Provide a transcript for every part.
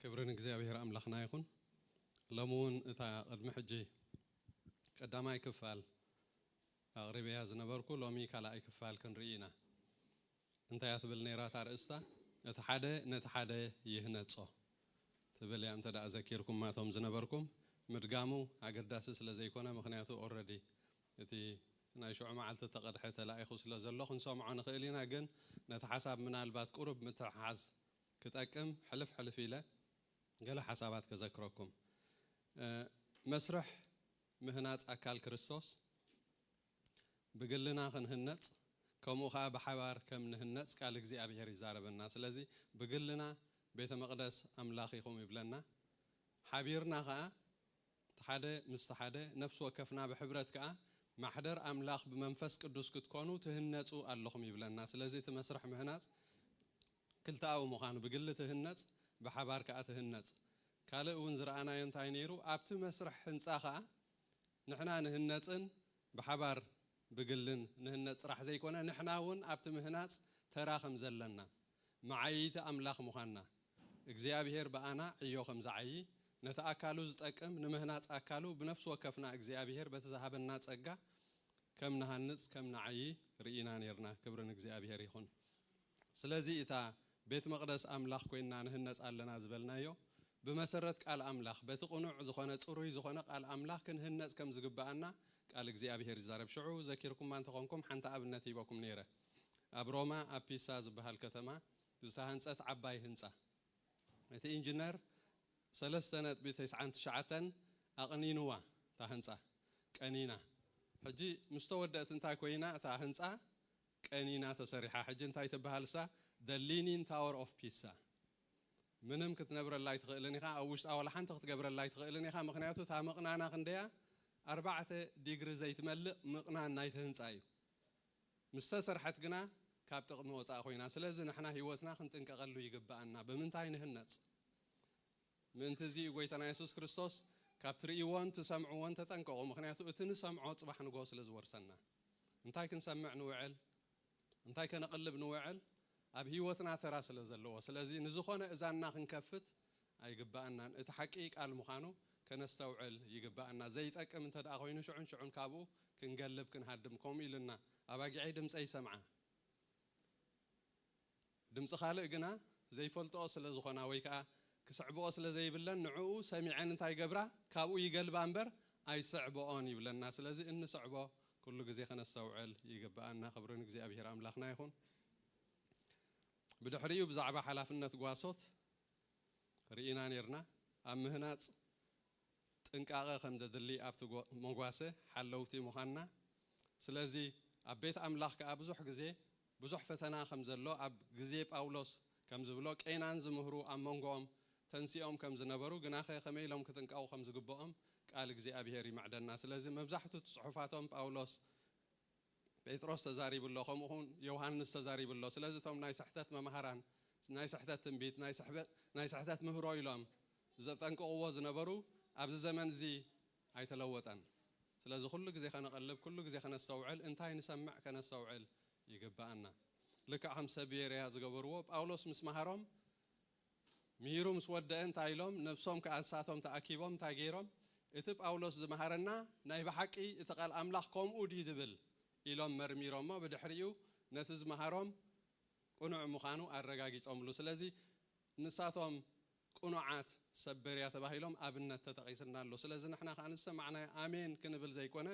ክብሪ ንእግዚኣብሔር ኣምላኽና ይኹን። ሎሚ እውን እታ ቅድሚ ሕጂ ቀዳማይ ክፋል ኣቕሪበያ ዝነበርኩ ሎሚ ካልኣይ ክፋል ክንርኢ ኢና። እንታይ እያ ትብል ነይራ እታ ኣርእስታ? እቲ ሓደ ነቲ ሓደ ይህነጾ ትብል እያ እንተ ዘኪርኩማ እቶም ዝነበርኩም። ምድጋሙ ኣገዳሲ ስለ ዘይኮነ ምኽንያቱ ኦረዲ እቲ ናይ ሽዑ መዓልቲ እተቐድሐ ተላኢኹ ስለ ዘሎ ክንሰምዖ ንኽእል ኢና ግን ነቲ ሓሳብ ምናልባት ቁሩብ ምትሕሓዝ ክጠቅም ሕልፍ ሕልፍ ኢለ ገለ ሓሳባት ከዘክረኩም። መስርሕ ምህናጽ ኣካል ክርስቶስ። ብግልና ክንህነጽ ከምኡ ከኣ ብሓባር ከም ንህነጽ ቃል እግዚኣብሄር ይዛረበና። ስለዚ ብግልና ቤተ መቅደስ ኣምላኽ ኢኹም ይብለና። ሓቢርና ከኣ እቲ ሓደ ምስቲ ሓደ ነፍሲ ወከፍና ብሕብረት ከኣ ማሕደር ኣምላኽ ብመንፈስ ቅዱስ ክትኮኑ ትህነጹ ኣለኹም ይብለና። ስለዚ እቲ መስርሕ ምህናጽ ክልተኣዊ ምዃኑ ብግሊ ትህነጽ ብሓባር ከኣ ትህነጽ። ካልእ እውን ዝረኣናዮ እንታይ ነይሩ ኣብቲ መስርሕ ህንጻ ከኣ ንሕና ንህነጽን ብሓባር ብግልን ንህነጽ ጥራሕ ዘይኮነ ንሕና እውን ኣብቲ ምህናጽ ተራ ከም ዘለና መዓይይቲ ኣምላኽ ምዃንና እግዚኣብሔር ብኣና ዕዮ ከም ዝዓዪ ነቲ ኣካሉ ዝጠቅም ንምህናጽ ኣካሉ ብነፍሲ ወከፍና እግዚኣብሔር በቲ ዝሃበና ጸጋ ከም ንሃንጽ ከም ንዓዪ ርኢና ኔርና ክብሪ ንእግዚኣብሔር ይኹን። ስለዚ እታ ቤት መቕደስ ኣምላኽ ኮይና ንህነጽ ኣለና ዝበልናዮ፣ ብመሰረት ቃል ኣምላኽ፣ በቲ ቅኑዕ ዝኾነ ጽሩይ ዝኾነ ቃል ኣምላኽ ክንህነጽ ከም ዝግብኣና ቃል እግዚኣብሄር ይዛረብ። ሽዑ ዘኪርኩማ እንተ ኾንኩም ሓንቲ ኣብነት ሂበኩም ኔረ። ኣብ ሮማ ኣብ ፒሳ ዝበሃል ከተማ ዝተሃንጸት ዓባይ ህንጻ። እቲ ኢንጅነር ሰለስተ ነጥቢ ተስዓን ትሽዓተን ኣቕኒንዋ እታ ህንጻ። ቀኒና። ሕጂ ምስ ተወደእት እንታይ ኮይና እታ ህንጻ ቀኒና ተሰሪሓ ሕጂ እንታይ ትብሃልሳ the leaning tower of pisa ምንም ክትነብረላ ኣይትኽእልን ኢኻ ኣብ ውሽጣ ዋላ ሓንቲ ክትገብረላ ኣይትኽእልን ኢኻ ምኽንያቱ እታ ምቕናና ክንደያ ኣርባዕተ ዲግሪ ዘይትመልእ ምቕናን ናይቲ ህንጻ እዩ ምስ ተሰርሐት ግና ካብ ጥቕሚ ወጻእ ኮይና ስለዚ ንሕና ሂወትና ክንጥንቀቐሉ ይግብኣና ብምንታይ ንህነጽ ምእንቲ እዚ እዩ ጐይታና የሱስ ክርስቶስ፣ ካብ ትርእይዎን ትሰምዕዎን ተጠንቀቑ፣ ምኽንያቱ እቲ ንሰምዖ ጽባሕ ንግሆ ስለ ዝወርሰና። እንታይ ክንሰምዕ ንውዕል፣ እንታይ ከነቕልብ ንውዕል፣ ኣብ ህይወትና ተራ ስለ ዘለዎ፣ ስለዚ ንዝዀነ እዛንና ክንከፍት ኣይግብኣናን። እቲ ሓቂ ቃል ምዃኑ ከነስተውዕል ይግብኣና። ዘይጠቅም እንተ ደኣ ዀይኑ ሽዑን ሽዑን ካብኡ ክንገልብ ክንሃድም። ከምኡ ኢሉና፣ ኣባጊዐይ ድምጸይ ይሰምዓ። ድምጺ ካልእ ግና ዘይፈልጥኦ ስለ ዝኾና ወይ ከኣ ክስዕብኦ ስለ ዘይብለን ንዕኡ ሰሚዐን እንታይ ይገብራ ካብኡ ይገልባ እምበር ኣይስዕብኦን ይብለና ስለዚ እንስዕቦ ኩሉ ግዜ ከነስተውዕል ይግብኣና ክብሪ ንእግዚኣብሄር ኣምላኽና ይኹን ብድሕሪኡ ብዛዕባ ሓላፍነት ጓሶት ርኢና ኔርና ኣብ ምህናጽ ጥንቃቐ ከም ዘድሊ ኣብቲ መጓሰ ሓለውቲ ምዃንና፣ ስለዚ ኣብ ቤት ኣምላኽ ከኣ ብዙሕ ግዜ ብዙሕ ፈተና ከም ዘሎ ኣብ ግዜ ጳውሎስ ከም ዝብሎ ቄናን ዝምህሩ ኣብ መንጎኦም ተንሲኦም ከም ዝነበሩ ግናኸ ከመይ ኢሎም ክጥንቀቑ ከም ዝግብኦም ቃል እግዚኣብሄር ይምዕደና ስለዚ መብዛሕቱ ጽሑፋቶም ጳውሎስ ጴጥሮስ ተዛሪቡ ኣሎ ከምኡ ኹን ዮውሃንስ ተዛሪቡ ኣሎ ስለዚ እቶም ናይ ስሕተት መማህራን ናይ ስሕተት ትንቢት ናይ ስሕተት ምህሮ ኢሎም ዘጠንቅቕዎ ዝነበሩ ኣብዚ ዘመን እዚ ኣይተለወጠን ስለዚ ኩሉ ግዜ ከነቐልብ ኩሉ ግዜ ከነስተውዕል እንታይ ንሰምዕ ከነስተውዕል ይግብኣና ልክዕ ከም ሰብ ቤርያ ዝገበርዎ ጳውሎስ ምስ መሃሮም ምሂሩ ምስ ወደኣ እንታይ ኢሎም ነብሶም ከኣ ንሳቶም ተኣኪቦም እንታይ ገይሮም እቲ ጳውሎስ ዝመሃረና ናይ ብሓቂ እቲ ቃል ኣምላኽ ከምኡ ድዩ ዝብል ኢሎም መርሚሮሞ ብድሕሪኡ ነቲ ዝመሃሮም ቅኑዕ ምዃኑ ኣረጋጊጾምሉ ስለዚ ንሳቶም ቅኑዓት ሰብ በርያ ተባሂሎም ኣብነት ተጠቒስልና ኣሎ ስለዚ ንሕና ከኣ ንዝሰማዕናዮ ኣሜን ክንብል ዘይኮነ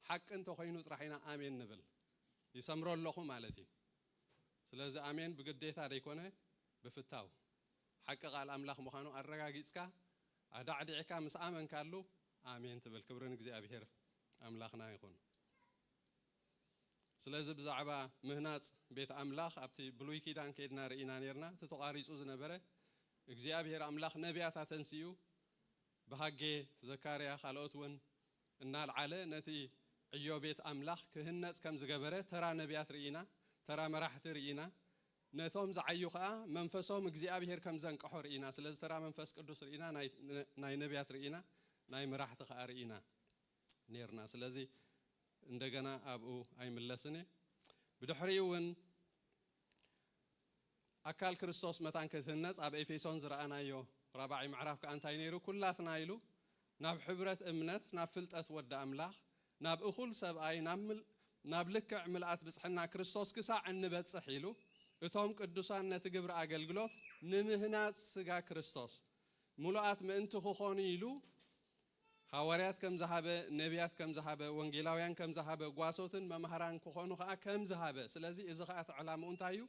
ሓቂ እንተኾይኑ ጥራሕ ኢና ኣሜን ንብል ይሰምሮ ኣለኹ ማለት እዩ ስለዚ ኣሜን ብግዴታ ዘይኮነ ብፍታው ሓቂ ቃል ኣምላኽ ምዃኑ ኣረጋጊጽካ ኣዳዕዲዕካ ምስ ኣመንካሉ ኣሜን ትብል ክብሪ ንእግዚኣብሄር ኣምላኽና ይኹን። ስለዚ ብዛዕባ ምህናጽ ቤት ኣምላኽ ኣብቲ ብሉይ ኪዳን ከይድና ርኢና ኔርና እቲ ተቛሪጹ ዝነበረ እግዚኣብሄር ኣምላኽ ነብያት ኣተንሲኡ ብሃጌ ዘካርያ ካልኦት ውን እናልዓለ ነቲ ዕዮ ቤት ኣምላኽ ክህነጽ ከም ዝገበረ ተራ ነብያት ርኢና ተራ መራሕቲ ርኢና ነቶም ዝዓዩ ከኣ መንፈሶም እግዚኣብሄር ከም ዘንቀሖ ርኢና ስለዚ ተራ መንፈስ ቅዱስ ርኢና ናይ ነብያት ርኢና ናይ መራሕቲ ከኣ ርኢና ኔርና ስለዚ እንደገና ኣብኡ ኣይምለስን እየ ብድሕሪኡ ውን ኣካል ክርስቶስ መታን ክትህነጽ ኣብ ኤፌሶን ዝረኣናዮ ራብዓይ ምዕራፍ ከኣ እንታይ ነይሩ? ኩላትና ኢሉ ናብ ሕብረት እምነት ናብ ፍልጠት ወዲ ኣምላኽ ናብ እኹል ሰብኣይ ናብ ናብ ልክዕ ምልኣት ብጽሕና ክርስቶስ ክሳዕ እንበጽሕ ኢሉ እቶም ቅዱሳን ነቲ ግብሪ ኣገልግሎት ንምህናጽ ስጋ ክርስቶስ ምሉኣት ምእንቲ ክኾኑ ኢሉ ሃዋርያት ከም ዝሃበ፣ ነብያት ከም ዝሃበ፣ ወንጌላውያን ከም ዝሃበ፣ ጓሶትን መማህራን ክኾኑ ከኣ ከም ዝሃበ፣ ስለዚ እዚ ከኣ እቲ ዕላምኡ እንታይ እዩ?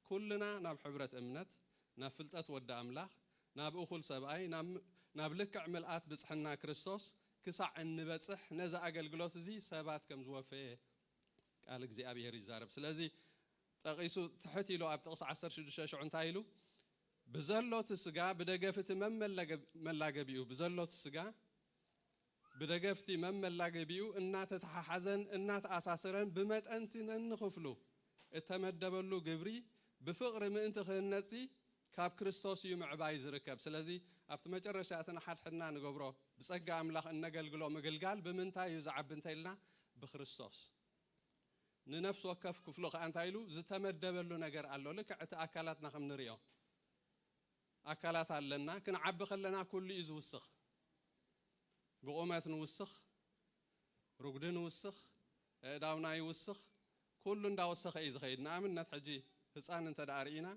ኩልና ናብ ሕብረት እምነት፣ ናብ ፍልጠት ወዲ ኣምላኽ፣ ናብ እኹል ሰብኣይ፣ ናብ ናብ ልክዕ ምልኣት ብጽሕና ክርስቶስ ክሳዕ እንበጽሕ ነዚ ኣገልግሎት እዚ ሰባት ከም ዝወፈየ ቃል እግዚኣብሄር ይዛረብ። ስለዚ ጠቒሱ ትሕት ኢሉ ኣብ ጥቕሲ ዓሰርተ ሽዱሽተ ሽዑ እንታይ ኢሉ? ብዘሎት ስጋ ብደገፍቲ መመላገቢኡ ብዘሎት ስጋ ብደገፍቲ መመላገቢኡ እናተተሓሓዘን እናተኣሳሰረን ብመጠንቲ ነንኽፍሉ እተመደበሉ ግብሪ ብፍቕሪ ምእንቲ ክህነጽሲ ካብ ክርስቶስ እዩ ምዕባይ ዝርከብ። ስለዚ ኣብቲ መጨረሻ እቲ ንሓድሕድና ንገብሮ ብጸጋ ኣምላኽ እነገልግሎ ምግልጋል ብምንታይ እዩ ዝዓቢ እንተኢልና ብክርስቶስ ንነፍሲ ወከፍ ክፍሉ ከኣ እንታይ ኢሉ ዝተመደበሉ ነገር ኣሎ ልክዕ እቲ ኣካላትና ከም ንሪኦ ኣካላት ኣለና ክንዓቢ ከለና ኩሉ እዩ ዝውስኽ ብቑመት ንውስኽ ርጉዲ ንውስኽ ኣእዳውና ይውስኽ ኩሉ እንዳወሰኸ እዩ ዝኸይድ ንኣብነት ሕጂ ህፃን እንተ ደኣ ርኢና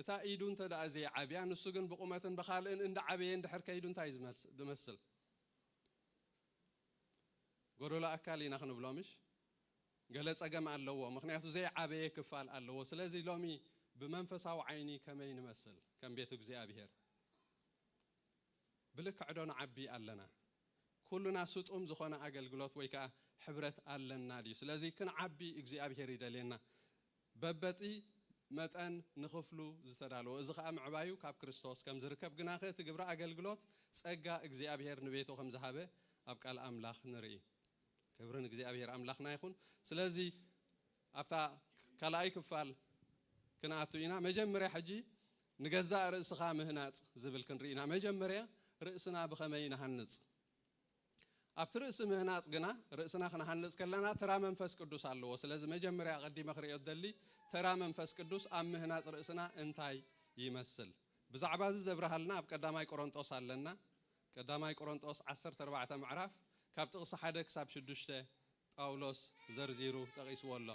እታ ኢዱ እንተ ደኣ ዘይዓብያ ንሱ ግን ብቑመትን ብኻልእን እንዳዓበየ እንድሕር ከይዱ እንታይ እዩ ዝመስል ጎደሎ ኣካል ኢና ክንብሎ ምሽ ገለ ጸገም ኣለዎ ምክንያቱ ዘይዓበየ ክፋል ኣለዎ ስለዚ ሎሚ ብመንፈሳዊ ዓይኒ ከመይ ንመስል ከም ቤት እግዚኣብሔር ብልክዕ ዶ ንዓቢ ኣለና ኩሉና ስጡም ዝኾነ ኣገልግሎት ወይ ከኣ ሕብረት ኣለና ድዩ ስለዚ ክንዓቢ እግዚኣብሔር ይደልየና በበቲ መጠን ንኽፍሉ ዝተዳለወ እዚ ኸኣ ምዕባዩ ካብ ክርስቶስ ከም ዝርከብ ግናኸ እቲ ግብሪ ኣገልግሎት ጸጋ እግዚኣብሔር ንቤቱ ከም ዝሃበ ኣብ ቃል ኣምላኽ ንርኢ ክብሪ ንእግዚኣብሔር ኣምላኽና ይኹን ስለዚ ኣብታ ካልኣይ ክፋል ክንኣቱ ኢና መጀመርያ ሕጂ ንገዛእ ርእስኻ ምህናጽ ዝብል ክንርኢ ኢና መጀመርያ ርእስና ብኸመይ ንሃንጽ ኣብቲ ርእሲ ምህናጽ ግና ርእስና ክንሃንጽ ከለና ተራ መንፈስ ቅዱስ ኣለዎ። ስለዚ መጀመርያ ኣቀዲመ ክርእዮ ዝደሊ ተራ መንፈስ ቅዱስ ኣብ ምህናጽ ርእስና እንታይ ይመስል ብዛዕባ እዚ ዘብርሃልና ኣብ ቀዳማይ ቆሮንጦስ ኣለና ቀዳማይ ቆሮንጦስ ዓሰርተ ኣርባዕተ ምዕራፍ ካብ ጥቅሲ ሓደ ክሳብ ሽዱሽተ ጳውሎስ ዘርዚሩ ጠቂስዎ ኣሎ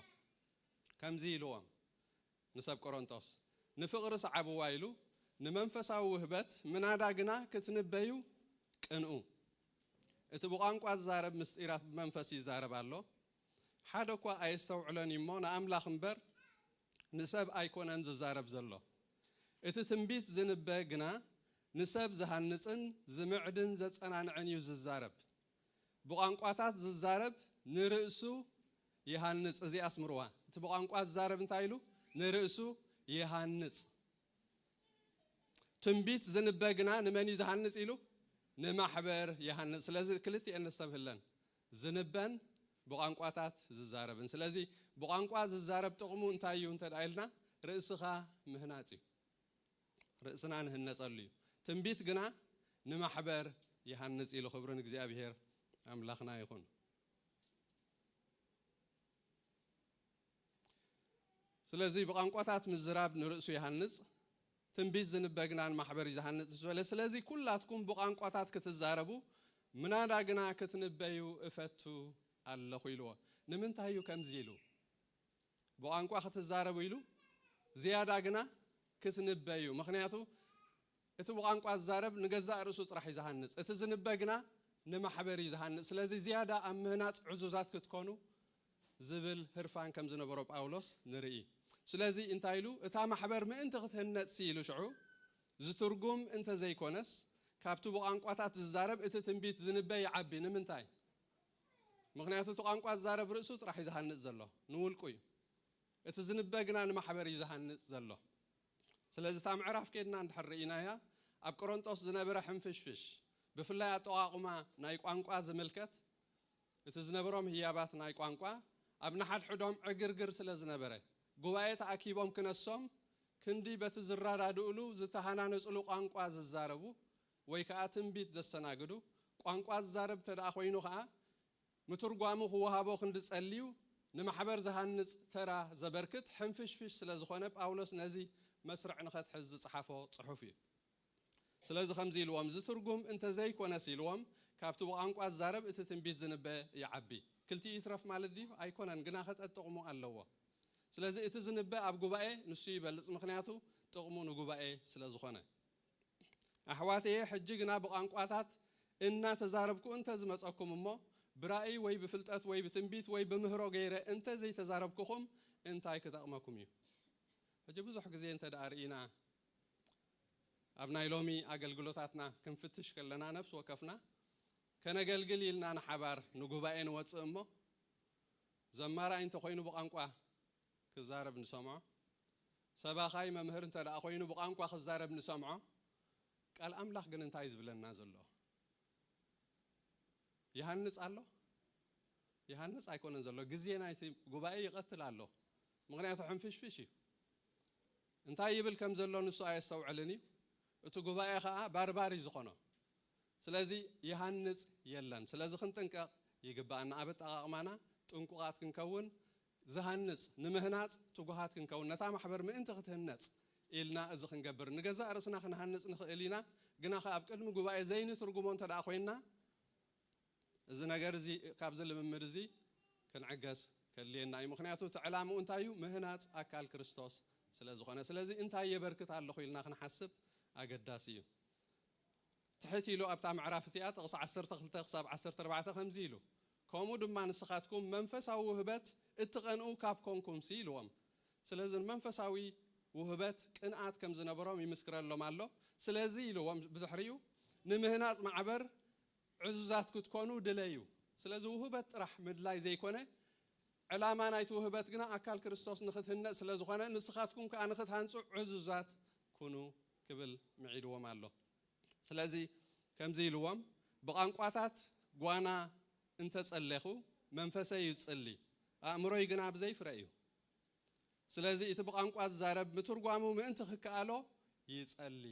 ከምዚ ኢልዎም ንሰብ ቆሮንቶስ ንፍቕሪ ስዓብዋ ኢሉ ንመንፈሳዊ ውህበት ምናዳ ግና ክትንበዩ ቅንኡ። እቲ ብቋንቋ ዝዛረብ ምስጢራት ብመንፈስ ይዛረብ ኣሎ፣ ሓደ እኳ ኣየስተውዕሎን እዩ እሞ ንኣምላኽ እምበር ንሰብ ኣይኮነን ዝዛረብ ዘሎ። እቲ ትንቢት ዝንበ ግና ንሰብ ዝሃንጽን ዝምዕድን ዘጸናንዕን እዩ ዝዛረብ። ብቋንቋታት ዝዛረብ ንርእሱ ይሃንጽ እዚኣ ኣስምርዋ እቲ ብቋንቋ ዝዛረብ እንታይ ኢሉ ንርእሱ ይሃንጽ ትንቢት ዝንበ ግና ንመን እዩ ዝሃንጽ ኢሉ ንማሕበር ይሃንጽ ስለዚ ክልቲኤን ነስተብህለን ዝንበን ብቋንቋታት ዝዛረብን ስለዚ ብቋንቋ ዝዛረብ ጥቕሙ እንታይ እዩ እንተ ኢልና ርእስኻ ምህናጽ እዩ ርእስና ንህነጸሉ እዩ ትንቢት ግና ንማሕበር ይሃንጽ ኢሉ ክብሪ ንእግዚኣብሔር ኣምላኽና ይኹን ስለዚ ብቋንቋታት ምዝራብ ንርእሱ ይሃንጽ ትንቢት ዝንበ ግና ንማሕበር እዩ ዝሃንጽ ምስ በለ ስለዚ ኩላትኩም ብቋንቋታት ክትዛረቡ ምናዳ ግና ክትንበዩ እፈቱ ኣለኹ ኢልዎ ንምንታይ እዩ ከምዚ ኢሉ ብቋንቋ ክትዛረቡ ኢሉ ዝያዳ ግና ክትንበ እዩ። ምኽንያቱ እቲ ብቋንቋ ዝዛረብ ንገዛእ ርእሱ ጥራሕ እዩ ዝሃንጽ፣ እቲ ዝንበ ግና ንማሕበር እዩ ዝሃንጽ። ስለዚ ዝያዳ ኣብ ምህናጽ ዕዙዛት ክትኮኑ ዝብል ህርፋን ከም ዝነበሮ ጳውሎስ ንርኢ። ስለዚ እንታይ ኢሉ? እታ ማሕበር ምእንቲ ክትህነጽሲ ኢሉ ሽዑ ዝትርጉም እንተ ዘይኰነስ ካብቲ ብቋንቋታት ዝዛረብ እቲ ትንቢት ዝንበ ይዓቢ። ንምንታይ? ምኽንያቱ እቲ ቋንቋ ዝዛረብ ርእሱ ጥራሕ እዩ ዝሃንጽ ዘሎ፣ ንውልቁ እዩ። እቲ ዝንበ ግና ንማሕበር እዩ ዝሃንጽ ዘሎ። ስለዚ እታ ምዕራፍ ኬድና እንድሕር ርኢናያ ኣብ ቆሮንጦስ ዝነበረ ሕንፍሽፍሽ ብፍላይ ኣጠቓቑማ ናይ ቋንቋ ዝምልከት እቲ ዝነበሮም ህያባት ናይ ቋንቋ ኣብ ንሓድሕዶም ዕግርግር ስለ ዝነበረ ጉባኤ ተኣኪቦም ክነሶም ክንዲ በቲ ዝረዳድእሉ ዝተሃናነጽሉ ቋንቋ ዝዛረቡ ወይ ከኣ ትንቢት ዘስተናግዱ ቋንቋ ዝዛረብ እንተደኣ ኮይኑ ከኣ ምትርጓሙ ክወሃቦ ክንዲ ጸልዩ ንማሕበር ዝሃንጽ ተራ ዘበርክት ሕንፍሽፍሽ ስለ ዝኾነ ጳውሎስ ነዚ መስርዕ ንኸትሕዝ ዝጸሓፎ ጽሑፍ እዩ። ስለዚ ከምዚ ኢልዎም ዝትርጉም እንተ ዘይኮነስ ኢልዎም ካብቲ ብቛንቋ ዝዛረብ እቲ ትንቢት ዝንበ ይዓቢ ክልቲኡ ይትረፍ ማለት ድዩ ኣይኮነን ግናኸ ጠጥቕሙ ኣለዎ ስለዚ እቲ ዝንበ ኣብ ጉባኤ ንሱ ይበልጽ ምኽንያቱ ጥቕሙ ንጉባኤ ስለ ዝኾነ ኣሕዋተየ ሕጂ ግና ብቛንቋታት እናተዛረብኩ እንተ ዝመጸኩም እሞ ብራእይ ወይ ብፍልጠት ወይ ብትንቢት ወይ ብምህሮ ገይረ እንተ ዘይተዛረብኩኹም እንታይ ክጠቕመኩም እዩ ሕጂ ብዙሕ ግዜ እንተ ደኣ ርኢና ኣብ ናይ ሎሚ ኣገልግሎታትና ክንፍትሽ ከለና ነፍሲ ወከፍና ከነገልግል ኢልና ንሓባር ንጉባኤ ንወጽእ እሞ ዘማራይ እንተ ኮይኑ ብቛንቋ ክዛረብ ንሰምዖ ሰባኻይ መምህር እንተ ደኣ ኮይኑ ብቛንቋ ክዛረብ ንሰምዖ ቃል ኣምላኽ ግን እንታይ እዩ ዝብለና ዘሎ ይሃንጽ ኣሎ ይሃንጽ ኣይኮነን ዘሎ ግዜ ናይቲ ጉባኤ ይቐትል ኣሎ ምኽንያቱ ሕንፍሽፍሽ እዩ እንታይ ይብል ከም ዘሎ ንሱ ኣየስተውዕልን እዩ እቲ ጉባኤ ከዓ ባርባር እዩ ዝኾኖ ስለዚ ይሃንጽ የለን ስለዚ ክንጥንቀቕ ይግባኣና ኣብ ኣጠቓቕማና ጥንቁቓት ክንከውን ዝሃንጽ፣ ንምህናጽ ትጉሃት ክንከውን፣ ነታ ማሕበር ምእንቲ ክትህነጽ ኢልና እዚ ክንገብር፣ ንገዛእ ርእስና ክንሃንጽ ንኽእል ኢና፣ ግና ኸኣ ኣብ ቅድሚ ጉባኤ ዘይንትርጉሞ እንተ ደኣ ኾይንና፣ እዚ ነገር እዚ ካብዚ ልምምድ እዚ ክንዕገስ ከድልየና እዩ። ምኽንያቱ እቲ ዕላምኡ እንታይ እዩ? ምህናጽ ኣካል ክርስቶስ ስለ ዝኾነ። ስለዚ እንታይ የበርክት ኣለኹ ኢልና ክንሓስብ ኣገዳሲ እዩ። ትሕት ኢሉ ኣብታ ምዕራፍ እቲኣ ጥቕሲ ዓሰርተ ክልተ ክሳብ ዓሰርተ ኣርባዕተ ከምዚ ኢሉ ከምኡ ድማ ንስኻትኩም መንፈሳዊ ውህበት እትቐንኡ ካብ ኮንኩምሲ ኢልዎም ስለዚ ንመንፈሳዊ ውህበት ቅንኣት ከም ዝነበሮም ይምስክረሎም ኣሎ ስለዚ ኢልዎም ብድሕሪኡ ንምህናጽ ማዕበር ዕዙዛት ክትኮኑ ድለዩ ስለዚ ውህበት ጥራሕ ምድላይ ዘይኮነ ዕላማ ናይቲ ውህበት ግና ኣካል ክርስቶስ ንኽትህነጽ ስለ ዝኾነ ንስኻትኩም ከኣ ንኽትሃንጹ ዕዙዛት ኩኑ ክብል ምዒድዎም ኣሎ። ስለዚ ከምዚ ኢልዎም፣ ብቛንቋታት ጓና እንተ ጸሌኹ፣ መንፈሰይ ይጽሊ፣ ኣእምሮይ ግና ብዘይ ፍረ እዩ። ስለዚ እቲ ብቛንቋ ዝዛረብ ምትርጓሙ ምእንቲ ክከኣሎ ይጸሊ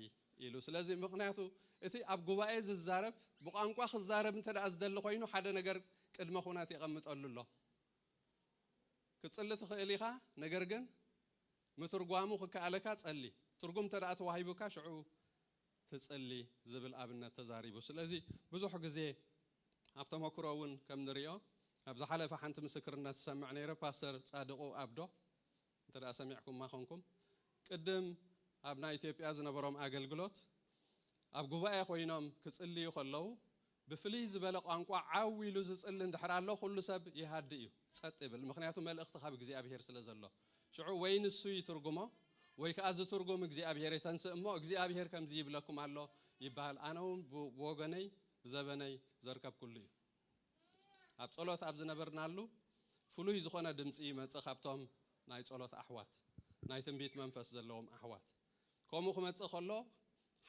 ኢሉ። ስለዚ ምኽንያቱ እቲ ኣብ ጉባኤ ዝዛረብ ብቛንቋ ክዛረብ እንተ ደኣ ዝደሊ ኮይኑ ሓደ ነገር ቅድመ ኩነት የቐምጠሉ ኣሎ። ክትጽሊ ትኽእል ኢኻ፣ ነገር ግን ምትርጓሙ ክከኣለካ ጸሊ፣ ትርጉም እንተ ተዋሂቡካ ሽዑ ትጽሊ ዝብል ኣብነት ተዛሪቡ። ስለዚ ብዙሕ ግዜ ኣብ ተመክሮ እውን ከም ንሪኦ ኣብ ዝሓለፈ ሓንቲ ምስክርነት ዝሰምዕ ነይረ ፓስተር ጻድቁ ኣብዶ እንተ ሰሚዕኩማ ኮንኩም ቅድም ኣብ ናይ ኢትዮጵያ ዝነበሮም ኣገልግሎት ኣብ ጉባኤ ኮይኖም ክጽልዩ ከለዉ ብፍልይ ዝበለ ቋንቋ ዓው ኢሉ ዝጽሊ እንድሕር ኣሎ ኩሉ ሰብ ይሃድእ እዩ ጸጥ ይብል ምኽንያቱ መልእኽቲ ካብ እግዚኣብሄር ስለ ዘሎ ሽዑ ወይ ንሱ ይትርጉሞ ወይ ከኣ ዝትርጉም እግዚኣብሄር የተንስእ እሞ እግዚኣብሄር ከምዚ ይብለኩም ኣሎ ይበሃል ኣነ ውን ብወገነይ ብዘበነይ ዘርከብኩሉ እዩ ኣብ ጸሎት ኣብ ዝነበርናሉ ፍሉይ ዝኾነ ድምጺ ይመጽእ ካብቶም ናይ ጸሎት ኣሕዋት ናይ ትንቢት መንፈስ ዘለዎም ኣሕዋት ከምኡ ክመጽእ ከሎ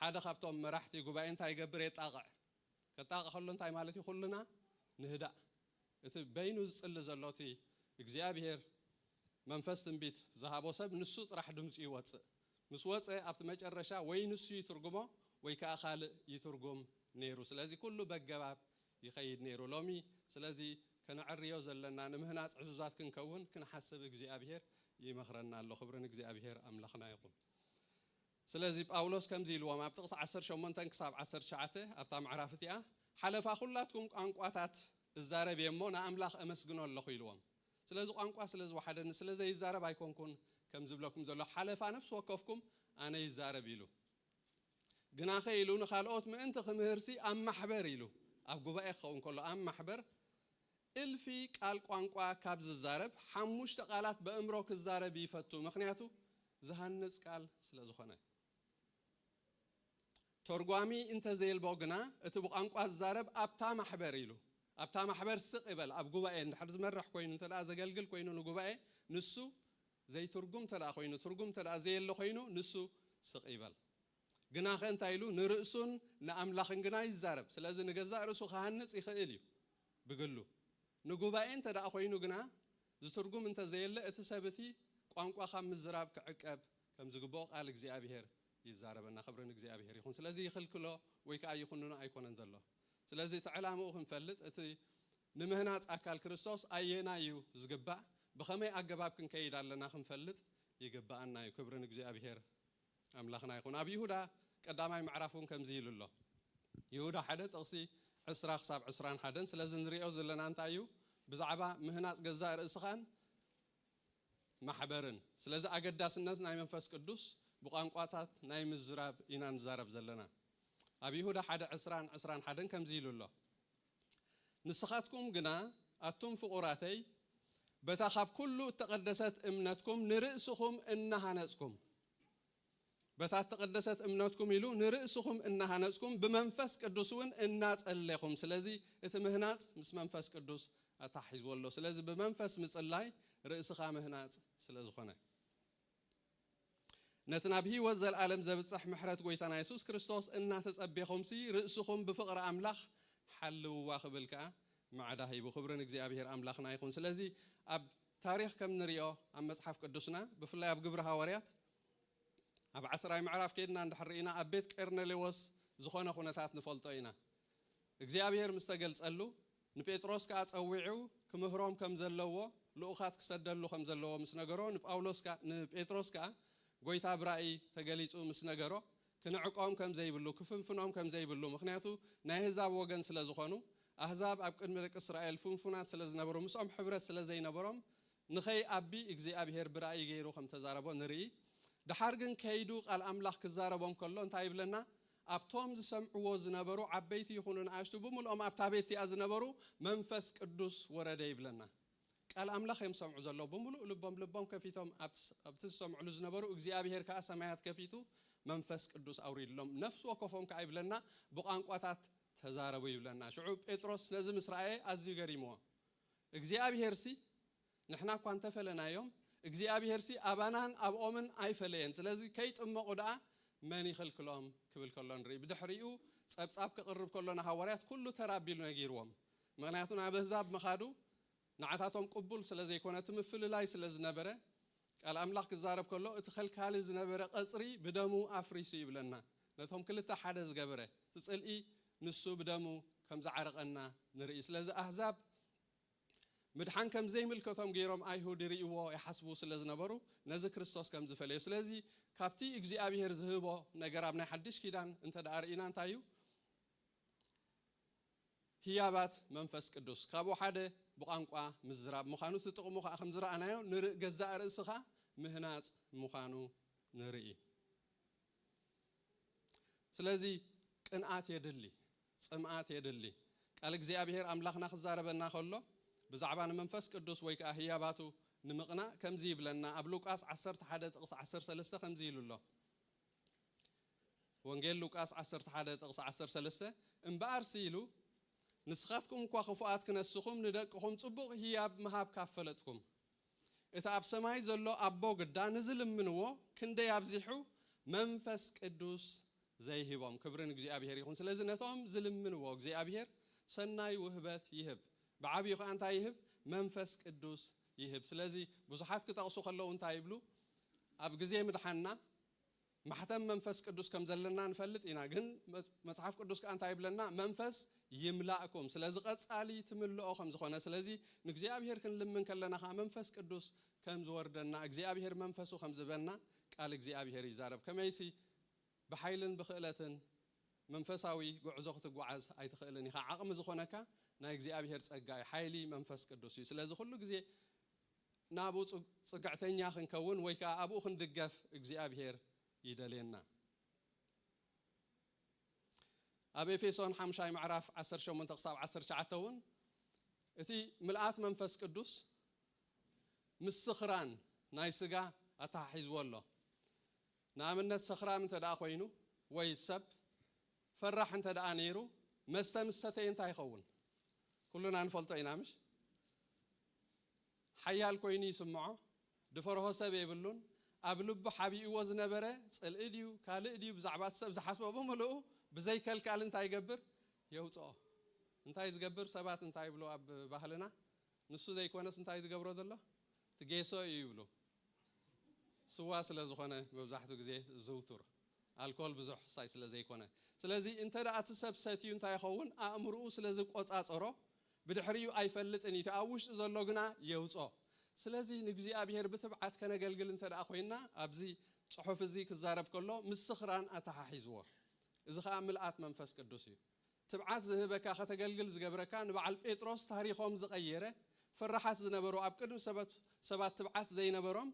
ሓደ ካብቶም መራሕቲ ጉባኤ እንታይ ይገብር? የጣቕዕ። ከጣቕዕ ከሎ እንታይ ማለት እዩ? ኩልና ንህዳእ። እቲ በይኑ ዝጽሊ ዘሎ እቲ እግዚኣብሄር መንፈስ ትንቢት ዝሃቦ ሰብ ንሱ ጥራሕ ድምጹ ይወጽእ። ምስ ወጸ ኣብቲ መጨረሻ ወይ ንሱ ይትርጉሞ ወይ ከኣ ካልእ ይትርጉም ነይሩ። ስለዚ ኩሉ በገባብ ይኸይድ ነይሩ ሎሚ ስለዚ ከነዐርዮ ዘለና ንምህናጽ ዕዙዛት ክንከውን ክንሓስብ እግዚኣብሄር ይመኽረና ኣሎ ክብሪ ንእግዚኣብሄር ኣምላኽና ይኹን ስለዚ ጳውሎስ ከምዚ ኢልዎም ኣብ ጥቕሲ ዓሰርተ ሸሞንተ ክሳብ ዓሰርተ ትሽዓተ ኣብታ ምዕራፍ እቲኣ ሓለፋ ኩላትኩም ቋንቋታት እዛረብ እየ እሞ ንኣምላኽ እመስግኖ ኣለኹ ኢልዎም ስለዚ ቋንቋ ስለ ዝወሓደኒ ስለ ዘይዛረብ ኣይኮንኩን ከም ዝብለኩም ዘሎ ሓለፋ ነፍሲ ወከፍኩም ኣነ ይዛረብ ኢሉ ግናኸ ኢሉ ንኻልኦት ምእንቲ ኺምህርሲ፣ ኣብ ማሕበር ኢሉ፣ ኣብ ጉባኤ ኪኸውን ከሎ፣ ኣብ ማሕበር፣ እልፊ ቃል ቋንቋ ካብ ዚዛረብ፣ ሓሙሽተ ቓላት በእምሮ ኪዛረብ ይፈቱ፣ ምኽንያቱ ዚሃንጽ ቃል ስለ ዝኾነ። ተርጓሚ እንተ ዜልቦ ግና፣ እቲ ብቋንቋ ዚዛረብ ኣብታ ማሕበር ኢሉ፣ ኣብታ ማሕበር ስቕ ይበል፣ ኣብ ጉባኤ እንድሕር ዚመርሕ ኮይኑ፣ እንተ ደኣ ዘገልግል ኮይኑ ንጉባኤ፣ ንሱ ዘይትርጉም እንተደኣ ኮይኑ ትርጉም እንተደኣ ዘየለ ኮይኑ ንሱ ስቕ ይበል። ግናኸ እንታይ ኢሉ ንርእሱን ንኣምላኽን ግና ይዛረብ። ስለዚ ንገዛእ ርእሱ ክሃንጽ ይኽእል እዩ ብግሉ። ንጉባኤ እንተደኣ ኮይኑ ግና ዝትርጉም እንተ ዘየለ እቲ ሰብ እቲ ቋንቋ ካብ ምዝራብ ክዕቀብ ከም ዝግብኦ ቃል እግዚኣብሄር ይዛረበና። ክብሪ ንእግዚኣብሄር ይኹን። ስለዚ ይኽልክሎ ወይ ከኣ ይኹንኖ ኣይኮነን ዘሎ። ስለዚ እቲ ዕላምኡ ክንፈልጥ እቲ ንምህናጽ ኣካል ክርስቶስ ኣየናይ እዩ ዝግባእ ብኸመይ ኣገባብ ክንከይድ ኣለና ክንፈልጥ ይግብኣና እዩ ክብሪ ንእግዚኣብሄር ኣምላኽና ይኹን ኣብ ይሁዳ ቀዳማይ ምዕራፍ እውን ከምዚ ኢሉ ኣሎ ይሁዳ ሓደ ጥቕሲ ዕስራ ክሳብ ዕስራን ሓደን ስለዚ ንሪኦ ዘለና እንታይ እዩ ብዛዕባ ምህናጽ ገዛእ ርእስኻን ማሕበርን ስለዚ ኣገዳስነት ናይ መንፈስ ቅዱስ ብቋንቋታት ናይ ምዝራብ ኢና ንዛረብ ዘለና ኣብ ይሁዳ ሓደ ዕስራን ዕስራን ሓደን ከምዚ ኢሉ ኣሎ ንስኻትኩም ግና ኣቱም ፍቑራተይ በታ ኻብ ኵሉ እተቐደሰት እምነትኩም ንርእስኹም እናሃነጽኩም፣ በታ እተቐደሰት እምነትኩም ኢሉ ንርእስኹም እናሃነጽኩም ብመንፈስ ቅዱስውን እናጸሌኹም፣ ስለዚ እቲ ምህናጽ ምስ መንፈስ ቅዱስ ኣተሓሒዝዎ ኣሎ፣ ስለዚ ብመንፈስ ምጽላይ ርእስኻ ምህናጽ ስለ ዝኾነ። ነቲ ናብ ህይወት ዘልኣለም ዘብጽሕ ምሕረት ጎይታና የሱስ ክርስቶስ እናተጸቤኹምሲ ርእስኹም ብፍቕሪ ኣምላኽ ሓልውዋ ክብል ከኣ ማዕዳ ሂቡ። ክብሪ ንእግዚኣብሄር ኣምላኽና ይኹን። ስለዚ ኣብ ታሪኽ ከም ንሪኦ ኣብ መጽሓፍ ቅዱስና ብፍላይ ኣብ ግብሪ ሃዋርያት ኣብ ዓስራይ ምዕራፍ ኬድና እንድሕር ርኢና ኣብ ቤት ቄርኔሌዎስ ዝኾነ ኩነታት ንፈልጦ ኢና። እግዚኣብሄር ምስ ተገልጸሉ፣ ንጴጥሮስ ከኣ ጸዊዑ ክምህሮም ከም ዘለዎ ልኡኻት ክሰደሉ ከም ዘለዎ ምስ ነገሮ፣ ንጳውሎስ ከኣ ንጴጥሮስ ከኣ ጐይታ ብራእይ ተገሊጹ ምስ ነገሮ፣ ክንዕቆም ከም ዘይብሉ፣ ክፍንፍኖም ከም ዘይብሉ፣ ምኽንያቱ ናይ ኣህዛብ ወገን ስለ ዝኾኑ፣ ኣህዛብ ኣብ ቅድሚ ደቂ እስራኤል ፍንፉናት ስለ ዝነበሩ ምስኦም ሕብረት ስለ ዘይነበሮም ንኸይኣቢ እግዚኣብሄር ብራእይ ገይሩ ከም ተዛረቦ ንርኢ። ደሓር ግን ከይዱ ቃል ኣምላኽ ክዛረቦም ከሎ እንታይ ይብለና? ኣብቶም ዝሰምዕዎ ዝነበሩ ዓበይቲ ይኹኑ ንኣሽቱ ብምልኦም ኣብታ ቤት እቲኣ ዝነበሩ መንፈስ ቅዱስ ወረደ ይብለና ቃል ኣምላኽ እዮም ዝሰምዑ ዘለዉ ብምሉእ ልቦም ልቦም ከፊቶም ኣብቲ ዝሰምዕሉ ዝነበሩ እግዚኣብሄር ከኣ ሰማያት ከፊቱ መንፈስ ቅዱስ ኣውሪድሎም ነፍሲ ወከፎም ከኣ ይብለና ብቛንቋታት ተዛረቡ ይብለና ሽዑ ጴጥሮስ ነዚ ምስ ረኣየ ኣዝዩ ገሪምዎ እግዚኣብሄርሲ ንሕና እኳ እንተ ፈለናዮም እግዚኣብሄርሲ ኣባናን ኣብኦምን ኣይፈለየን ስለዚ ከይጥመቑ ደኣ መን ይኽልክሎም ክብል ከሎ ንርኢ። ብድሕሪኡ ጸብጻብ ከቕርብ ከሎ ንሃዋርያት ኩሉ ተራ ኣቢሉ ነጊርዎም ምኽንያቱ ናብ ኣህዛብ ምኻዱ ንዓታቶም ቅቡል ስለ ዘይኮነ እቲ ምፍልላይ ስለ ዝነበረ ቃል ኣምላኽ ክዛረብ ከሎ እቲ ከልካሊ ዝነበረ ቐጽሪ ብደሙ ኣፍሪሱ ይብለና ነቶም ክልተ ሓደ ዝገበረ እቲ ጽልኢ ንሱ ብደሙ ከም ዝዓረቐና ንርኢ ስለዚ ኣህዛብ ምድሓን ከም ዘይምልከቶም ገይሮም ኣይሁድ ይርእይዎ ይሓስቡ ስለ ዝነበሩ ነዚ ክርስቶስ ከም ዝፈለዮ ስለዚ ካብቲ እግዚኣብሄር ዝህቦ ነገር ኣብ ናይ ሓድሽ ኪዳን እንተ ደኣ ርኢና እንታይ እዩ ህያባት መንፈስ ቅዱስ ካብኡ ሓደ ብቛንቋ ምዝራብ ምዃኑ እቲ ጥቕሙ ከዓ ከም ዝረኣናዮ ንርእ ገዛእ ርእስኻ ምህናጽ ምዃኑ ንርኢ ስለዚ ቅንኣት የድሊ ጽምኣት የድሊ። ቃል እግዚኣብሄር ኣምላኽና ክዛረበና ከሎ ብዛዕባ ንመንፈስ ቅዱስ ወይ ከኣ ህያባቱ ንምቕናእ ከምዚ ይብለና ኣብ ሉቃስ ዓሰርተ ሓደ ጥቕሲ ዓሰርተ ሰለስተ ከምዚ ኢሉ ኣሎ ወንጌል ሉቃስ ዓሰርተ ሓደ ጥቕሲ ዓሰርተ ሰለስተ እምበኣርሲ ኢሉ ንስኻትኩም እኳ ክፉኣት ክነስኹም ንደቅኹም ጽቡቕ ህያብ ምሃብ ካብ ፈለጥኩም እቲ ኣብ ሰማይ ዘሎ ኣቦ ግዳ ንዝልምንዎ ክንደይ ኣብዚሑ መንፈስ ቅዱስ ዘይህቦም። ክብሪ ንእግዚኣብሄር ይኹን። ስለዚ ነቶም ዝልምንዎ እግዚኣብሄር ሰናይ ውህበት ይህብ። ብዓቢኡ ከኣ እንታይ ይህብ? መንፈስ ቅዱስ ይህብ። ስለዚ ብዙሓት ክጠቕሱ ከለዉ እንታይ ይብሉ? ኣብ ግዜ ምድሓንና ማሕተም መንፈስ ቅዱስ ከም ዘለና ንፈልጥ ኢና ግን መጽሓፍ ቅዱስ ከኣ እንታይ ይብለና መንፈስ ይምላእኩም ስለዚ ቀጻሊ ትምልኦ ከም ዝኾነ ስለዚ ንእግዚኣብሄር ክንልምን ከለና ከኣ መንፈስ ቅዱስ ከም ዝወርደና እግዚኣብሄር መንፈሱ ከም ዝበና ቃል እግዚኣብሄር ይዛረብ ከመይሲ ብሓይልን ብኽእለትን መንፈሳዊ ጉዕዞ ክትጓዓዝ ኣይትኽእልን ኢኻ ዓቕሚ ዝኾነካ ናይ እግዚኣብሄር ጸጋ እዩ ሓይሊ መንፈስ ቅዱስ እዩ ስለዚ ኩሉ ግዜ ናብኡ ጽግዕተኛ ክንከውን ወይ ከኣ ኣብኡ ክንድገፍ እግዚኣብሄር ይደልየና። ኣብ ኤፌሶን ሓምሻይ ምዕራፍ ዓሰርተ ሸሞንተ ክሳብ ዓሰርተ ትሽዓተ እውን እቲ ምልኣት መንፈስ ቅዱስ ምስ ስኽራን ናይ ስጋ ኣተሓሒዝዎ ኣሎ። ንኣብነት ሰኽራም እንተ ደኣ ኮይኑ ወይ ሰብ ፈራሕ እንተ ደኣ ነይሩ መስተ ምስ ሰተየ እንታይ ይኸውን? ኩልና ንፈልጦ ኢና ምሽ? ሓያል ኮይኑ ይስምዖ፣ ድፈርሆ ሰብ የብሉን፣ ኣብ ልቡ ሓቢእዎ ዝነበረ ጽልኢ ድዩ ካልእ ድዩ ብዛዕባ እቲ ሰብ ዝሓስቦ ብምልኡ ብዘይ ከልካል እንታይ ይገብር የውጽኦ። እንታይ ዝገብር ሰባት እንታይ ይብሉ ኣብ ባህልና ንሱ ዘይኮነስ እንታይ ዝገብሮ ዘሎ ትጌሶ እዩ ይብሉ። ስዋ ስለ ዝኾነ መብዛሕቱ ግዜ ዝዝውቱር ኣልኮል ብዙሕ ሳይ ስለ ዘይኮነ ስለዚ እንተ እቲ ሰብ ሰትዩ እንታይ ይኸውን ኣእምርኡ ስለ ዝቆጻጸሮ ብድሕሪኡ ኣይፈልጥን ኢዩ ኣብ ውሽጢ ዘሎ ግና የውጾ ስለዚ ንእግዚኣብሄር ብትብዓት ከነገልግል እንተ ኮይና ኣብዚ ጽሑፍ እዚ ክዛረብ ከሎ ምስ ስኽራን ኣተሓሒዝዎ እዚ ከኣ ምልኣት መንፈስ ቅዱስ ኢዩ ትብዓት ዝህበካ ከተገልግል ዝገብረካ ንበዓል ጴጥሮስ ታሪኾም ዝቐየረ ፈራሓት ዝነበሩ ኣብ ቅድሚ ሰበት ሰባት ትብዓት ዘይነበሮም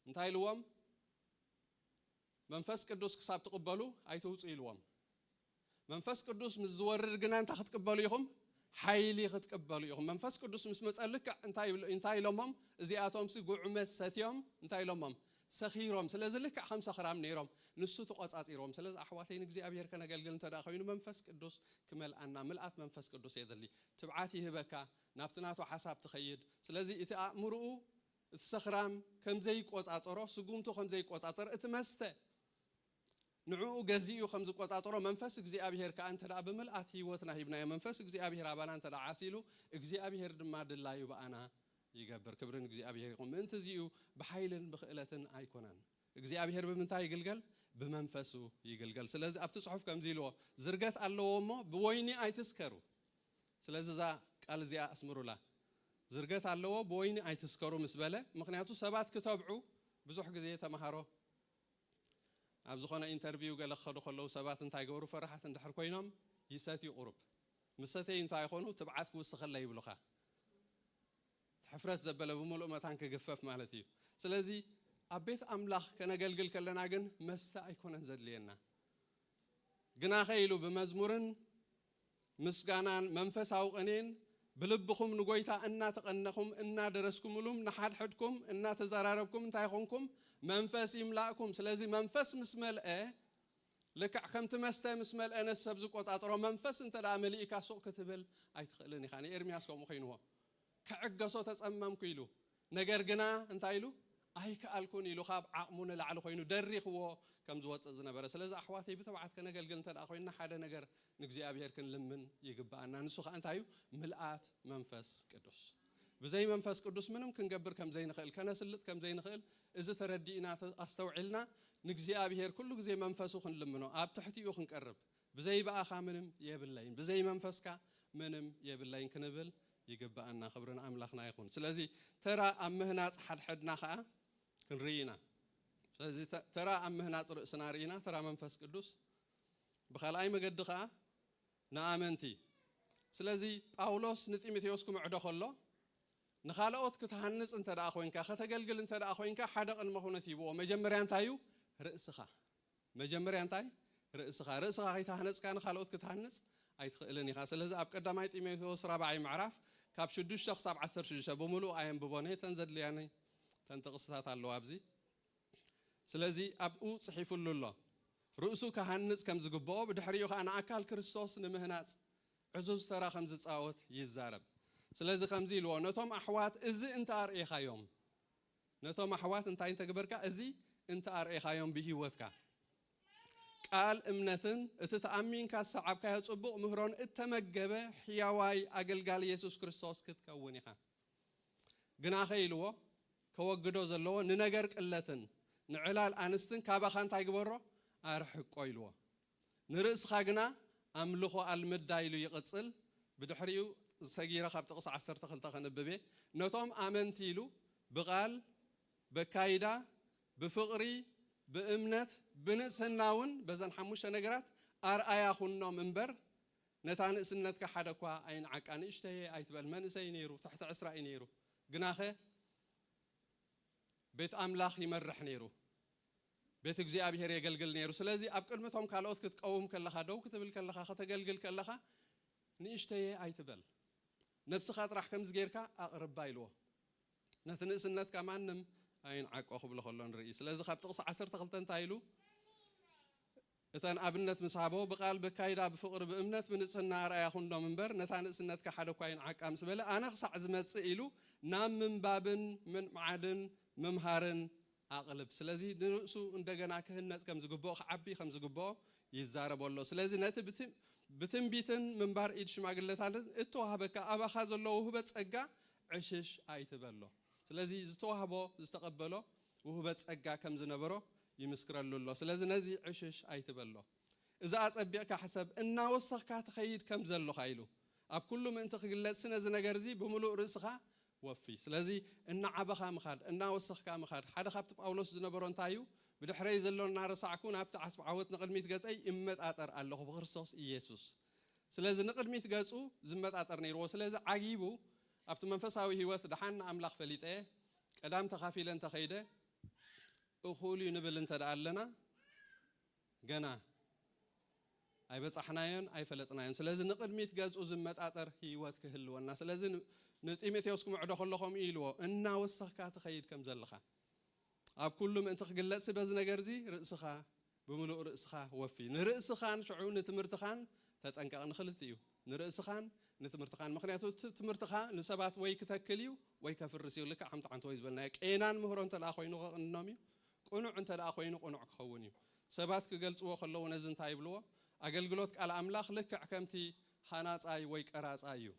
እንታይ ኢልዎም መንፈስ ቅዱስ ክሳብ ትቕበሉ ኣይትውጹ ኢልዎም መንፈስ ቅዱስ ምስ ዝወርድ ግና እንታይ ክትቅበሉ ኢኹም ሓይሊ ኽትቅበሉ ኢኹም። መንፈስ ቅዱስ ምስ መጸ ልክዕ እንታይ ኢሎ እንታይ ኢሎሞም እዚኣቶምሲ ጉዑመ ሰትዮም እንታይ ኢሎሞም ሰኺሮም ስለዚ ልክዕ ከም ሰኽራም ነይሮም ንሱ ተቆጻጺርዎም ስለዚ ኣሕዋተይ ንእግዚኣብሄር ከነገልግል እንተ ኮይኑ መንፈስ ቅዱስ ክመልኣና ምልኣት መንፈስ ቅዱስ የድሊ ትብዓት ይህበካ ናብቲ ናቱ ሓሳብ ትኸይድ ስለዚ እቲ ኣእምርኡ እቲ ሰኽራም ከምዘይቆጻጸሮ ስጉምቱ ከምዘይቆጻጸር እቲ መስተ ንዕኡ ገዚኡ ከም ዝቈጻጸሮ መንፈስ እግዚኣብሄር ከኣ እንተ ደኣ ብምልኣት ህይወትና ሂብናዮ መንፈስ እግዚኣብሄር ኣባና እንተ ደኣ ዓሲሉ እግዚኣብሄር ድማ ድላዩ ብኣና ይገብር። ክብሪ ንእግዚኣብሄር ይኹን። ምእንቲ እዚ እዩ ብሓይልን ብኽእለትን ኣይኰነን። እግዚኣብሄር ብምንታይ ይግልገል? ብመንፈሱ ይግልገል። ስለዚ ኣብቲ ጽሑፍ ከምዚ ኢልዎ ዝርገት ኣለዎ እሞ ብወይኒ ኣይትስከሩ። ስለዚ እዛ ቃል እዚኣ ኣስምሩላ። ዝርገት ኣለዎ ብወይኒ ኣይትስከሩ ምስ በለ ምኽንያቱ ሰባት ክተብዑ ብዙሕ ግዜ ተመሃሮ ኣብ ዝኾነ ኢንተርቪው ገለ ክኸዱ ከለዉ ሰባት እንታይ ገበሩ ፈራሓት እንድሕር ኮይኖም ይሰትዩ ቁሩብ ምስ ሰተዩ እንታይ ይኾኑ ትብዓት ክውስኸለይ ይብሉኻ ሕፍረት ዘበለ ብምሉእ መታን ክግፈፍ ማለት እዩ ስለዚ ኣብ ቤት ኣምላኽ ከነገልግል ከለና ግን መስተ ኣይኮነን ዘድልየና ግናኸ ኢሉ ብመዝሙርን ምስጋናን መንፈሳዊ ቅኔን ብልብኹም ንጐይታ እናተቐነኹም እናደረስኩምሉም ንሓድሕድኩም እናተዘራረብኩም እንታይ ኾንኩም መንፈስ ይምላእኩም ስለዚ መንፈስ ምስ መልአ ልክዕ ከምቲ መስተ ምስ መልአ ነቲ ሰብ ዝቆጻጽሮ መንፈስ እንተ መሊእካ ሱቕ ክትብል ኣይትኽእልን ኢኻ ንኤርምያስ ከምኡ ኮይንዎ ክዕገሶ ተጸመምኩ ኢሉ ነገር ግና እንታይ ኢሉ ኣይከኣልኩን ኢሉ ካብ ዓቕሙ ንላዕሊ ኮይኑ ደሪኽዎ ከም ዝወጽእ ዝነበረ ስለዚ ኣሕዋተይ ብትብዓት ከነገልግል እንተድኣ ኮይንና ሓደ ነገር ንእግዚኣብሄር ክንልምን ይግብኣና ንሱ ከኣ እንታይ እዩ ምልኣት መንፈስ ቅዱስ ብዘይ መንፈስ ቅዱስ ምንም ክንገብር ከም ዘይንኽእል ከነስልጥ ከም ዘይንኽእል እዚ ተረዲእና ኣስተውዒልና ንእግዚኣብሄር ኩሉ ግዜ መንፈሱ ክንልምኖ ኣብ ትሕቲኡ ክንቀርብ ብዘይ ብኣኻ ምንም የብለይን ብዘይ መንፈስካ ምንም የብለይን ክንብል ይግብኣና ክብሪ ንኣምላኽና ይኹን ስለዚ ተራ ኣብ ምህናጽ ሓድሕድና ከኣ ክንርኢ ኢና ስለዚ ተራ ኣብ ምህናጽ ርእስና ርኢና ተራ መንፈስ ቅዱስ ብካልኣይ መገዲ ከኣ ንኣመንቲ ስለዚ ጳውሎስ ንጢሞቴዎስ ክምዕዶ ከሎ ንኻልኦት ክትሃንጽ እንተ ደኣ ኮይንካ ከተገልግል እንተ ደኣ ኮይንካ ሓደ ቅድመ ኩነት ይብዎ መጀመርያ እንታይ እዩ ርእስኻ መጀመርያ እንታይ? ርእስኻ። ርእስኻ ከይተሃነጽካ ንኻልኦት ክትሃንጽ ኣይትኽእልን ኢኻ። ስለዚ ኣብ ቀዳማይ ጢሞቴዎስ ራብዓይ ምዕራፍ ካብ ሽዱሽተ ክሳብ ዓሰርተ ሽዱሽተ ብምሉኡ ኣየንብቦን እየ እተን ዘድልያኒ እተን ጥቕስታት ኣለዋ ኣብዚ ስለዚ ኣብኡ ጽሒፍሉ ኣሎ ርእሱ ክሃንጽ ከም ዝግብኦ ብድሕሪኡ ከኣ ንኣካል ክርስቶስ ንምህናጽ ዕዙዝ ተራ ከም ዝጻወት ይዛረብ። ስለዚ ከምዚ ኢልዎ ነቶም ኣሕዋት እዚ እንተ ኣርእኻዮም። ነቶም ኣሕዋት እንታይ እንተ ግበርካ እዚ እንተ ኣርኤኻዮም ብሂወትካ ቃል እምነትን እቲ ተኣሚንካ ዝሰዓብካዮ ጽቡቕ ምህሮን እተመገበ ሕያዋይ ኣገልጋሊ የሱስ ክርስቶስ ክትከውን ኢኻ ግናኸ ኢልዎ ከወግዶ ዘለዎ ንነገር ቅለትን ንዕላል ኣንስትን ካባኻ እንታይ ግበሮ ኣርሕቆ ኢልዎ ንርእስኻ ግና ኣምልኾ ኣልምዳ ኢሉ ይቕጽል፣ ብድሕሪኡ ሰጊረ ካብ ጥቕሲ ዓሰርተ ክልተ ከንብብ እየ፣ ነቶም ኣመንቲ ኢሉ ብቓል፣ በካይዳ፣ ብፍቕሪ፣ ብእምነት፣ ብንጽህና እውን በዘን ሓሙሽተ ነገራት ኣርኣያ ኩኖም እምበር ነታ ንእስነትካ ሓደ እኳ ኣይንዓቃ ንእሽተየ ኣይትበል መንእሰይ ነይሩ ትሕቲ ዕስራ እዩ ነይሩ ግናኸ ቤት ኣምላኽ ይመርሕ ነይሩ ቤት እግዚኣብሔር የገልግል ነይሩ። ስለዚ ኣብ ቅድሚ እቶም ካልኦት ክትቀውም ከለኻ፣ ደው ክትብል ከለኻ፣ ከተገልግል ከለኻ ንእሽተየ ኣይትበል። ነብስኻ ጥራሕ ከምዚ ጌርካ ኣቕርባ ኢልዎ። ነቲ ንእስነትካ ማንም ኣይንዓቆ ክብሎ ከሎ ንርኢ። ስለዚ ካብ ጥቕሲ ዓሰርተ ክልተ እንታይ ኢሉ እተን ኣብነት ምስ ሃቦ፣ ብቓል፣ በካይዳ፣ ብፍቕሪ፣ ብእምነት፣ ብንጽህና ኣርኣያ ኩኖም እምበር፣ ነታ ንእስነትካ ሓደ እኳ ኣይንዓቃ ምስ በለ፣ ኣነ ክሳዕ ዝመጽእ ኢሉ ናብ ምንባብን ምንብዓድን ምምሃርን ኣቕልብ። ስለዚ ንርእሱ እንደገና ክህነጽ ከም ዝግብኦ፣ ክዓቢ ከም ዝግብኦ ይዛረቦ ኣሎ። ስለዚ ነቲ ብትንቢትን ምንባር ኢድ ሽማግለታትን እተዋህበካ ኣባኻ ዘሎ ውህበት ጸጋ ዕሽሽ ኣይትበሎ። ስለዚ ዝተዋህቦ፣ ዝተቐበሎ ውህበት ጸጋ ከም ዝነበሮ ይምስክረሉ ኣሎ ስለዚ ነዚ ዕሽሽ ኣይትበሎ እዚ ኣጸቢቕካ ሕሰብ እናወሰኽካ ትኸይድ ከም ዘሎኻ ኢሉ ኣብ ኩሉ ምእንቲ ክግለጽሲ ነዚ ነገር እዚ ብምሉእ ርእስኻ ወፊ ስለዚ እናዓበኻ ምኻድ እናወሰኽካ ምኻድ ሓደ ካብቲ ጳውሎስ ዝነበሮ እንታይ እዩ ብድሕረይ ዘሎ እናረሳዕኩ ናብቲ ዓስቢ ዓወት ንቕድሚት ገጸይ እመጣጠር ኣለኹ ብክርስቶስ ኢየሱስ ስለዚ ንቕድሚት ገጹ ዝመጣጠር ነይርዎ ስለዚ ዓጊቡ ኣብቲ መንፈሳዊ ህይወት ደሓን ንኣምላኽ ፈሊጠ ቀዳም ተኻፊለ እንተኸይደ እኹል እዩ ንብል እንተ ኣለና ገና ኣይበጻሕናዮን ኣይፈለጥናዮን ስለዚ ንቕድሚት ገዝኡ ዝመጣጠር ህይወት ክህልወና ስለዚ ንጢሞቴዎስ ክምዕዶ ከሎ ከምኡ እዩ ኢልዎ እናወሰኽካ ትኸይድ ከም ዘለኻ ኣብ ኩሉ ምእንቲ ክግለጽሲ በዚ ነገርዚ ርእስኻ ብምሉእ ርእስኻ ወፊ ንርእስኻን ሽዑ ንትምህርትኻን ተጠንቀቕ ንኽልቲኡ ንርእስኻን ንትምህርትኻን ምኽንያቱ እቲ ትምህርትኻ ንሰባት ወይ ክተክል እዩ ወይ ከፍርስ እዩ ልክዕ ከምቲ ሓንተወይ ዝበልናዮ ቄናን ምህሮ እንተደኣ ኮይኑ ከቕንኖም እዩ ቅኑዕ እንተደኣ ኮይኑ ቅኑዕ ክኸውን እዩ ሰባት ክገልጽዎ ከለዉ ነዚ እንታይ ይብልዎ ኣገልግሎት ቃል ኣምላኽ ልክዕ ከምቲ ሃናጻይ ወይ ቀራጻይ እዩ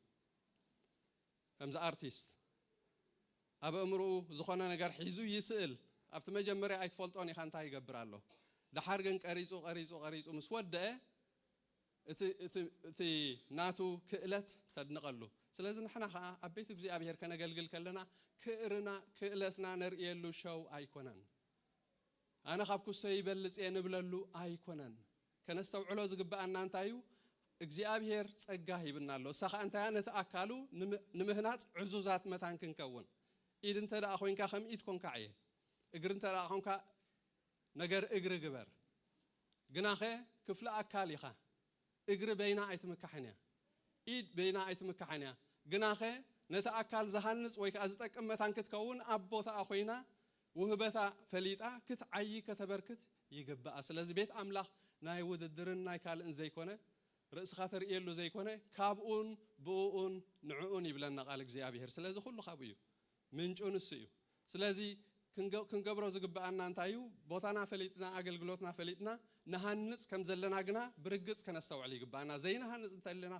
ከምዚ ኣርቲስት ኣብ ኣእምርኡ ዝኾነ ነገር ሒዙ ይስእል ኣብቲ መጀመርያ ኣይትፈልጦን ኢኻ እንታይ ይገብር ኣሎ ደሓር ግን ቀሪጹ ቀሪጹ ቀሪጹ ምስ ወደኣ እቲ እቲ እቲ ናቱ ክእለት ተድንቐሉ ስለዚ ንሕና ከኣ ኣብ ቤት እግዚኣብሄር ከነገልግል ከለና ክእርና ክእለትና ነርእየሉ ሸው ኣይኮነን ኣነ ካብ ኩሶ ይበልጽ እየ ንብለሉ ኣይኮነን። ከነስተውዕሎ ዝግብኣና እንታይ እዩ፣ እግዚኣብሄር ጸጋ ሂብና ኣሎ፣ እሳ ከኣ እንታይ እያ፣ ነቲ ኣካሉ ንምህናጽ ዕዙዛት መታን ክንከውን። ኢድ እንተደኣ ኮይንካ ከም ኢድ ኮንካ ዕየ፣ እግሪ እንተደኣ ኮንካ ነገር እግሪ ግበር። ግናኸ ክፍሊ ኣካል ኢኻ፣ እግሪ በይና ኣይትምካሕን እያ፣ ኢድ በይና ኣይትምካሕን እያ፣ ግናኸ ነቲ ኣካል ዝሃንጽ ወይ ከኣ ዝጠቅም መታን ክትከውን ኣብ ቦታኣ ኮይና ውህበታ ፈሊጣ ክትዓዪ ከተበርክት ይግብኣ። ስለዚ ቤት ኣምላኽ ናይ ውድድርን ናይ ካልእን ዘይኮነ፣ ርእስኻ ተርእየሉ ዘይኮነ፣ ካብኡን ብእኡን ንዕኡን ይብለና ቃል እግዚኣብሄር። ስለዚ ኩሉ ካብኡ እዩ። ምንጩ ንሱ እዩ። ስለዚ ክንገብሮ ዝግብኣና እንታይ እዩ? ቦታና ፈሊጥና ኣገልግሎትና ፈሊጥና ንሃንጽ ከም ዘለና ግና ብርግጽ ከነስተውዕል ይግብኣና። ዘይንሃንጽ እንተ ኣሊና